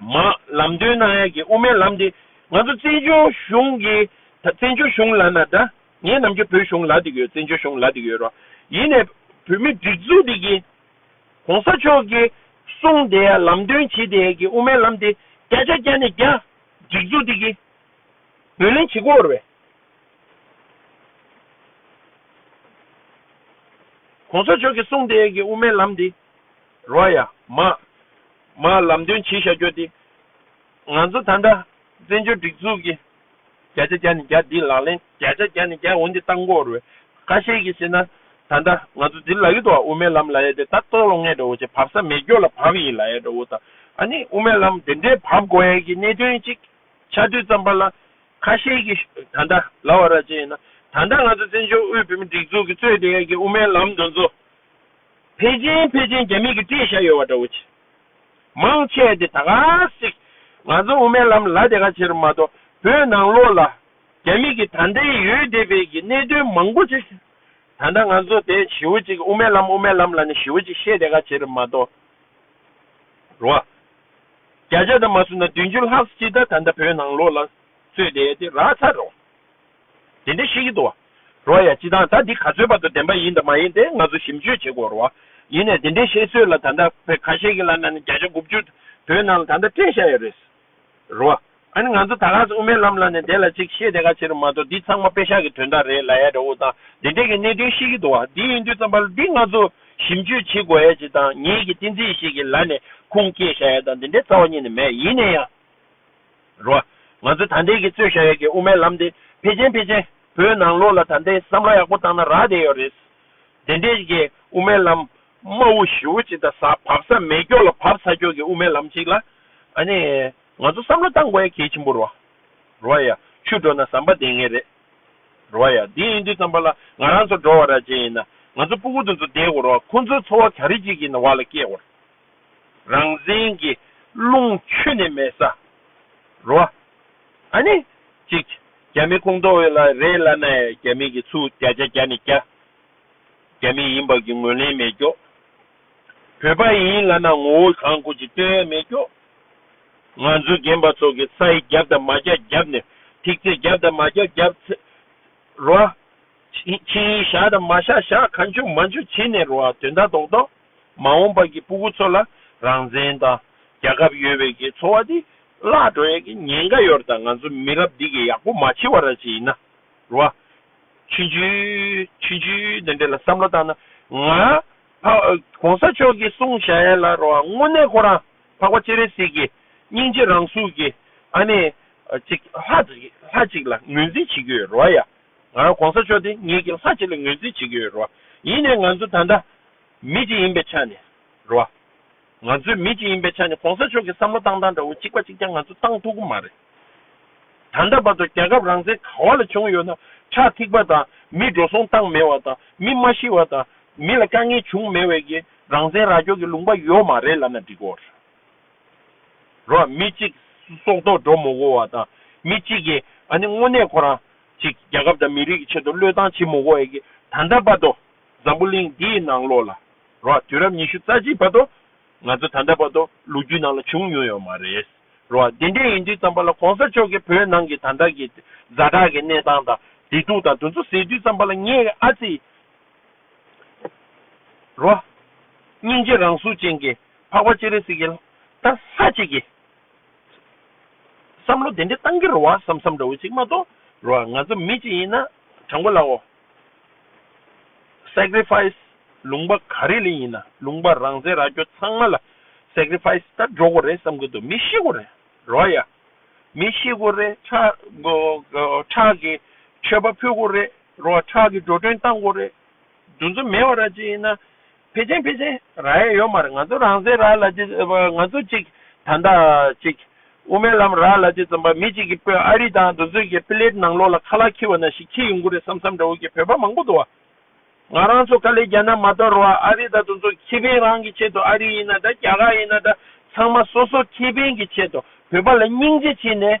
མ། ལམ་སྟོན་གནང་ཡག་གི་དབུ་མའི་ལམ་འདི་ང་ཚོ་བཙན་བྱོལ་གཞུང་གི་ད་བཙན་བྱོལ་གཞུང་ལ་ན་ད་ངའི་ནམ་རྒྱུན་བོད་གཞུང་ལ་དེ་གི་བཙན་བྱོལ་གཞུང་ལ་དེ་གི་ཡོད་རོ་ཡིན་ནས་བོད་མི་སྒྲིག་འཛུགས་དེ་གི་གོང་ས་མཆོག་གི་གསུང་དེ་ཡ་ལམ་སྟོན་བྱེད་དེ་ཡ་གི་དབུ་མའི་ལམ་དེ་བསྐྱར་བསྐྱར་བསྐྱར་ནས་བསྐྱར་སྒྲིག་འཛུགས་དེ་གི་འདོན་ལེན་བྱེད་དགོས་རེད། གོང་ས་མཆོག་གི་གསུང་དེ་ཡ་གི་དབུ་མའི་ལམ་དེ། རོ་ཡ། མ། མ། ལམ་སྟོན་བྱེད་ཤ་རྒྱོ་སྟེ། ང་ཚོ་ད་འདྲ། བཙན་བྱོལ་སྒྲིག་འཛུགས་ཀྱི། བརྒྱ་ཆ་བརྒྱ་ནས་བརྒྱ་འདི་ལག་ལེན། བརྒྱ་ཆ་བརྒྱ་ནས་བརྒྱ་འོན་ཏེ་ལྟ་འགོ་རུལ། ཁ་ཤས་ཀྱིས་ཟེར་ན། ད་འདྲ། ང་ཚོ་འདིར་ལ་ཡོད་དོ། དབུ་མའི་ལམ་ལ་ཡོད་དེ་ད་ལྟོགས་ལོ་ངས་འདྲ་བོ་ཅིག་བབ་ས་མེད་སྐྱོ་ལ་བབ་ཡིན་ལ་ཡ་འདྲ་བོ་དང། ཨ་ནི་དབུ་མའི་ལམ་དེ་འདྲའི་བབ་དགོ་ཡ་གི་གནད་དོན་ཅིག། ཆ་བསྟོད་ཙམ་པ་ལ། ཁ་ཤས་ཀྱིས། ད་འདྲ། ལ་བ་ར་ཅན་ཡིན་ན། ད་འདྲ་ང་ཚོ་བཙན་བྱོལ་དབུས་བོད་མི་སྒྲིག་འཛུགས་ཀྱི་གཙོས་དེ་ཡ་གི་དབུ་མའི་ལམ་འདི་ཚོ། ཕལ་ཆེན་ཕལ་ཆེན་རྒྱ་མིས་ཀྱི་བཀྲེས་ཤག་ཡོད་བ་འདྲ་བོ་ཆེ། མང་ཆེ་བ་དེ་ད་ག་ཟིག་ང་ཚོ་དབུ་མའི་ལམ་ལ་དེ་ག་ཕྱིར་མ་གཏོགས་བོད་ནང་ལོགས་ལ་རྒྱ་མིས་ཀྱི་ད་ལྟའི་ཡོད་བསྡད་པའི་ཀྱི་གནད་དོན་མང་པོ་ཆེ་ཞུ་ད་ལྟ་ང་ཚོ་དེ་ཞི་བོ་ཅིག་དབུ་མའི་ལམ་དབུ་མའི་ལམ་ལ་ནི་ཞི་བོ་ཅིག་བཤད་དེ་ག་ཕྱིར་མ་གཏོགས་རུ་བ་བརྒྱ་ཆ་ད་མ་སུ་ན་བདུན་ཅུ་ལྷག་སྤྱི་ད་ད་ད་བོད་ནང་ལོགས་ལ་རྩོད་དེ་དེ་རག་ཚར་རོ། དེ་འདྲའི་ཤེས་ཀྱི་འདུག་རོ་ཡ་སྤྱི་དང་ད་འདི་ག་ཚོད་བར་དུ་བདེན་པ་ཡིན་དང་མ་ཡིན་དེ་ང་ཚོ་ཞིབ་འཇུས་བྱེད་དགོས་རོ། ཡིན་ནས་དེ་འདྲའི་བཤད་ཚོད་ལ་ད་ལྟ་བོད་ཁ་ཤས་ཀྱི་ལ་ན་ནི་བརྒྱ་ཆ་དགུ་བཅུ་བོད་ནང་ལ་ད་ལྟ་སྤྲད་བཞག་ཡོད་རེད། རོ། ཨ་ནི་ང་ཚོ་ད་ག་ཚོད་དབུ་མའི་ལམ་ལ་ནི་དེ་ལ་ཅིག་བཤད་དེ་ག་ཕྱིར་མ་གཏོགས་འདི་ཚང་མ་དཔེ་ཤག་གི་དོན་དག་རེད་ལ་ཡ་རེ་འུ་ཐང་དེ་འདྲས་ཀྱི་གནད་དོན་ཤེས་ཀྱི་འདུག་འདི་ཡིན་དུས་ཙམ་པར་འདི་ང་ཚོ་ཞིབ་འཇུས་བྱེད་དགོས་ཡ་ཅིག་དང་ངེད་ཀྱི་ཏིང་འཛིན་ཞིག་གི་ལ་ནི་ཁུངས་སྐྱེལ་བཞག་ཡ་དང་དེ་འདྲའི་རྩ་བ་ཉིད་ནི་མེད་ཡིན་ནས་ཡང། རོ། ང་ཚོས་ད་ལྟའི་གི་རྩོད་བཞག་ཡག་གི་དབུ་མའི་ལམ་དེ་ཕལ་ཆེན་ཕལ་ཆེན་བོད་ནང་ལོག་ལ་ད་ལྟའི་བསམ་བློ་ཡག་པོ་བཏང་ན་རག་བསྡད་ཡོད་རེད། དེ་འདྲའི་གི་དབུ་མའི་ལམ་དམའ་བོ་ཞི་བོ་ཅིག་དང་ས་བབ་ས་མེད་སྐྱོ་ལ་བབ་ས་སྐྱོ་གི་དབུ་མའི་ལམ་ཅིག་ལ་ཨ་ནི་ང་ཚོ་བསམ་བློ་བཏང་དགོས་ཡ་གལ་ཆེན་པོ་རོ། རོ་ཡ། ཆུ་འགྲོ་ན་ཟམ་པ་འདེད་ངེས་རེད། རོ་ཡ། དེ་ཡིན་དུས་ཙམ་པ་ལ་ང་རང་ཚོ་འགྲོ་བ་ར་བྱེད་ཡིན་ན་ང་ཚོ་སྤུ་གུ་དེ་ཚོ་བསྡད་དགོས་རོ་ཁོང་ཚོའི་འཚོ་བ་ག་རེ་ཅིག་གི་བར་ལ་སྐྱེལ་དགོས་རོ། རང་བཙན་གྱི་རླུང་ཆུ་ནི་མེད་ས་རོ། ཨ་ནི། ཅིག། རྒྱ་མི་ཁུངས་གཏོགས་ཡོད་ལ་རེད་བླ་ན་ཡ་རྒྱ་མི་གི་ཚུགས་རྒྱ་རྒྱ་རྒྱ་ནི་རྒྱ། རྒྱ་མི་ཡིན་བབ་ཀྱི་ངོས་ལེན་མེད་རྒྱོ། བོད་པ་ཡིན་བླ་ན་ངོ་བོ་གང་དགོས་ཅིག་སྟོན་ཡ་མེད་རྒྱོ། ང་ཚོ་རྒན་པ་ཚོ་གི་ཚ་ཡི་རྒྱབ་དང་མ་རྒྱ་རྒྱབ་ནི་ཐིག་ཚེ་རྒྱབ་དང་མ་རྒྱ་རྒྱབ་ཚེ་རོ། ཕྱི་ཡི་ཞག་དང་མ་ཞག་ཞག་ག་འཇུག་མ་འཇུག་བྱེད་ནི་རོ་དོན་དག་རྡོག་རྡོག། མ་འོངས་པ་ཀྱི་སྤུ་གུ་ཚོ་ལ་རང་བཙན་དང་རྒྱ་ཁབ་ཡོད་བའི་ཀྱི་འཚོ་བ་དེ་བརླག་འགྲོ་ཡ་ཀྱི་ཉེན་ཀ་ཡོད་ར་ད་ང་ཚོ་མི་རབས་འདི་ཀྱི་ཡག་པོ་མ་འཆི་བ་ར་ཅི་ཡིན་ན་རུ་བ། ཆུན་ཆུན། ཆུན་ཆུན་འདི་འདྲེ་ལ་བསམ་བློ་བཏང་ན་ང་ཕ། གོང་ས་མཆོག་ཀྱི་གསུང་བྱ་ཡ་ལ་རུ་བ་དངོས་གནས་ཁོ་རང་འཕགས་པ་སྤྱན་རས་གཟིགས་ཀྱི་སྙིང་རྗེ་རང་གཟུགས་ཀྱི་ཨ་ནེ། ཅིག་ལྷ་ཅིག་ལ་ངོས་འཛིན་བྱེད་ཀྱི་ཡོད་རུ་བ་ཡ། ང་རང་གོང་ས་མཆོག་འདི་ངེད་ཀྱི་ལྷ་གཅིག་ལ་ངོས་འཛིན་བྱེད་ཀྱི་ཡོད་རེད་བ། ཡིན་ནའི་ང་ཚོ་ད་ལྟ་མི་གཅིག་ཡིན་པའི་ཆ་ནས་རེད་བ། ང་ཚོའི་མི་གཅིག་ཡིན་པའི་ཆ་ནས་གོང་ས་མཆོག་གི་བསམ་བློ་བཏང་སྟངས་འདྲ་བོ་གཅིག་པ་གཅིག་ཀྱང་ང་ཚོ་བཏང་ཐུབ་གི་མ་རེད། ད་ལྟ་བར་དུ་རྒྱལ་ཁབ་རང་བཙན་ག་བ་ལ་བྱུང་ཡོད་ན་ཁྲག་ཐིགས་པ་དང་མི་འགྲོ་སོང་བཏང་མེད་བ་དང་མི་མ་ཤི་བ་དང་མི་ལ་དཀའ་ངལ་བྱུང་མེད་བས་ཀྱི་རང་བཙན་ར་སྐྱོར་གྱི་ལུང་པ་ཡོད་མ་རེད་ལབ་ན་འགྲིག་གོ། རོ། མི་གཅིག་སྲོག་ཐོག་འགྲོ་མོ་བོ་བ་དང། མི་གཅིག་གིས་ཨ་ནི་དངོས་གནས་ཁོ་རང་ཅིག་རྒྱལ་ཁབ་དང་མི་རིགས་ཀྱི་ཆེད་དུ་བློས་བཏང་བྱེད་མོ་བོ་ཨེ་གི་ད་ལྟ་བར་དུ་འཛམ་བུ་གླིང་འདིའི་ནང་ལོགས་ལ་རོ། དུས་རབས་ཉི་ཤུ་རྩ་གཅིག་བར་དུ་ང་ཚོ་ད་ལྟ་བར་དུ་ལོ་རྒྱུས་ནང་ལ་བྱུང་མྱོང་ཡོད་མ་རེད་རོ། དེ་འདྲས་ཡིན་དུས་ཙམ་པ་ལ་གོང་ས་མཆོག་གིས་བོད་ནང་གི་ད་ལྟ་གི་བཟའ་བྲག་གི་གནས་སྟངས་དང་བདེ་སྡུག་དང་དོན་ཚོ་ཟེར་དུས་ཙམ་པ་ལ་ངས་ཨ་ཙི། རོ། སྙིང་རྗེ་རང་གཟུགས་ཅན་གྱི་འཕགས་པ་ཅེ་རེ་སིག་གེ། ད་ལྷ་གཅིག་གི། བསམ་བློ་དེ་འདྲའི་གཏང་གི་རོ་བ་བསམ་བསམ་འདྲ་བོ་ཅིག་མ་གཏོགས་རོ། ང་ཚོ་མི་གཅིག་ཡིན་ན་དྲང་པོ་ལའོ། Sacrifice། ལུང་པ་ག་རེ་ལས་ཡིན་ན་ལུང་པ་རང་བཙན་ར་སྐྱོ་ཚང་མ་ལ Sacrifice ད་འགྲོ་གོ་རེ་བསམ་གི་འདུག་མི་ཤི་གོ་རེ་རོ་ཡ། མི་ཤི་གོ་རེ་ཁྲག་གི་མཆོད་པ་ཕུལ་གོ་རེ་རོ་བ་ཁྲག་གི་འགྲོ་གྲོན་བཏང་དགོས་རེད། རྫུན་རྫུན་མེད་བ་ར་ཅིག་ཡིན་ན། ཕལ་ཆེན་ཕལ་ཆེན་ར་ཡ་ཡོད་མ་རེད་ང་ཚོ་རང་སའི་ར་ལ་ཅིག་ང་ཚོ་ཅིག་ད་ལྟ་ཅིག་དབུ་མའི་ལམ་ར་ལ་ཅིག་བརྩམས་པ་མི་ཅིག་གི་དཔོན་ཨ་རི་དང་འདུ་འཛོས་ཀྱི་པི་ལེད་ནང་ལོག་ལ་ཁ་ལག་འཁྱིལ་བ་ན་ཞིག་འཁྱིལ་ཡོང་གི་རེད་བསམ་བསམ་འདྲ་བོ་ཀྱི་བོད་པ་མང་པོ་འདུག་ང་རང་ཚོ་ཀ་ལེ་རྒྱ་ནག་མ་གཏོགས་རོ་བ་ཨ་རི་དང་འདུ་འཛོ་ཁེ་ཕན་རང་གི་ཆེད་དུ་ཨ་རི་ཡིན་ན་འདྲ་རྒྱ་གར་ཡིན་ན་འདྲ་ཚང་མ་སོ་སོ་ཁེ་ཕན་གྱི་ཆེད་དུ་བོད་པ་ལ་སྙིང་རྗེ་བྱེད་ནས།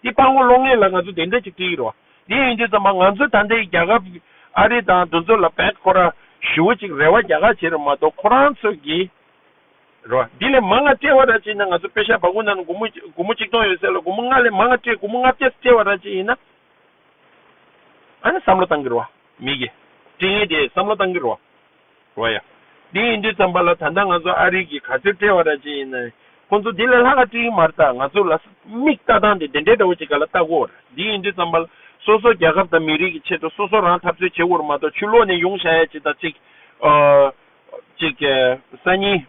འདི་སྤར་ངོ་ལོག་ངེས་ལ་ང་ཚོ་དེ་འདྲ་ཅིག་བྲིས་ཡོད་རོ། དེ་ཡིན་དུས་ཚང་མ་ང་ཚོ་ད་ལྟའི་རྒྱ་གར་གྱི་ཨ་རི་དང་འདུ་འཛོ་ལ་བེད་ཁོ་ར་ཞུ་བ་ཅིག་རེ་བ་རྒྱ་གར་བྱེད་ར་མ་གཏོགས་ཁོ་རང་ཚོ་གི་རོ། འདི་ལས་མ་ང་སྤྲེལ་བ་ར་བྱེད་ན་ང་ཚོ་པེ་ཤ་བ་གུ་ནང་ན་གུ་མོ་གཅིག་སྟོང་ཡོད་ཟེར་ལ་གུ་མོ་ལྔ་ལས་མ་ང་སྤྲེལ་གུ་མོ་ལྔ་བརྒྱ་སྤྲེལ་བ་ར་བྱེད་ཡིན་ན། ཨ་ནི་བསམ་བློ་བཏང་གི་རོ། མི་གི། སྤྲེལ་ངན་དེས་བསམ་བློ་བཏང་གི་རོ། རོ་ཡ། འདི་ཡིན་དུས་བརྩམས་པ་ལ་ད་ལྟ་ང་ཚོ་ཨ་རིག་གིས་ག་ཚོད་བཀྲེས་བ་ར་ཅི་ཡིན་ན་ཡིན་ཁོ་ཚོ་དེ་ལས་ལྷག་ག་ཅི་ཡིན་མར་བལྟ་ང་ཚོ་ལ་མིག་ལྟ་སྟངས་དེ་དེ་འདྲའི་འདྲ་བོ་ཅིག་ག་ལ་ལྟ་དགོས་ར་འདི་ཡིན་དུས་བརྩམས་པ་ལ་སོ་སོ་རྒྱ་ཁབ་དང་མི་རིགས་ཀྱི་ཆེད་དུ་སོ་སོ་རང་འཐབ་རྩོད་བྱེད་འོར་མ་གཏོགས་ཆུ་ལོག་ནས་ཡོང་བྱ་ཡ་གཅིག་དང་གཅིག། ཨོ། གཅིག། གསར་རྙིང།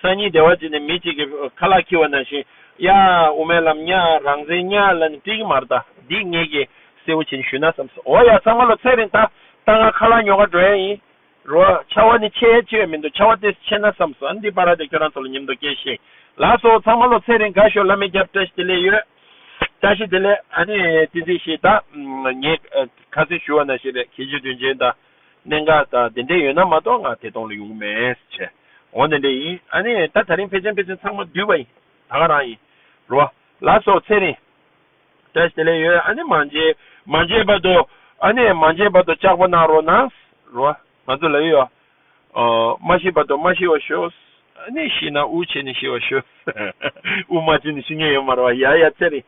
སང་ཉིན་སྡེ་བ་གཅིག་ནས་མི་གཅིག་གིས་ཁ་ལག་འཁྱིལ་བ་ནང་བཞིན། ཡ། དབུ་མའི་ལམ་གཉའ། རང་བཙན་གཉའ། ལ་ནི་ཏིལ་གྱི་མར་བཏགས། སྡིག་ངེས་ཀྱིས། སེར་བོ་བྱས་ནས་ཞུས་ན་བསམས་སོ། འོ་ཡ། ཚང་མ་ལོ་ཚད་རིང་བཏགས། བཏགས་ང་ཁ་ལག་ཉོ་གར་འགྲོ་ཡ་ཡིན། རོ། ཆ་བ་ནི་ཆེ་ཡ་ཆེ་བས་མི་འདུག་ཆ་བ་ཏེས་ཆེ་ན་བསམས་སོ། ཨ་འདི་པ་ར་དེ་ཁྱོད་རང་ཚོ་ལ་ཉེམས་དོ་སྐྱེས་ཤིག། ལགས་སོ། ཚང་མ་ལོ་ཚད་རིང་དགའ་ཞོག་བླ་མའི་རྒྱབ་བཀྲ་ཤིས་བདེ་ལེགས་ཡོད། བཀྲ་ཤིས་བདེ་ལེགས། ཨ་ནི། ཏིང་འཛིན་ཞེས་བཏགས། ངས། ཁ་ཟས་ཞུ་བ་ན་ཞིག་རེད་ཁྱེད་ཀྱི་དོན་ཆེན་དང། གནད་འགག་དང་དེ་འདྲས་ཡོད་ན་མ་གཏོགས་ང་དེ་གཏོང་ལ་ཡོང་གི་མེད། བྱས། འོ་དེ་འདྲས་ཡིན་ཨ་ནི་ད་ད་རིང་ཕལ་ཆེན་ཕལ་ཆེན་ཚང་མ་བསྡུས་པ་ཡིན། ད་ག་རང་ཡིན། རོ། ལ་སོགས་ཚེ་རིང། བཀྲ་ཤིས་ལས་ཡོད་ཨ་ནི་མ་མཇལ། མ་མཇལ་བར་དུ། ཨ་ནི་མ་མཇལ་བར་དུ་ལྕགས་པོ་གནང་རོགས་གནང། རོ། ང་ཚོ་ལ་ཡོད། འོ། མ་ཤི་བར་དུ་མ་ཤི་བར་ཤོས། ཨ་ནི་ཤི་ན་དབུགས་ཆད་ནས་ཤི་བར་ཤོས། དབུགས་མ་ཆད་ནས་ཤི་ངེས་ཡོད་མ་རེད་བ། ཡ་ཡ་ཚེ་རིང།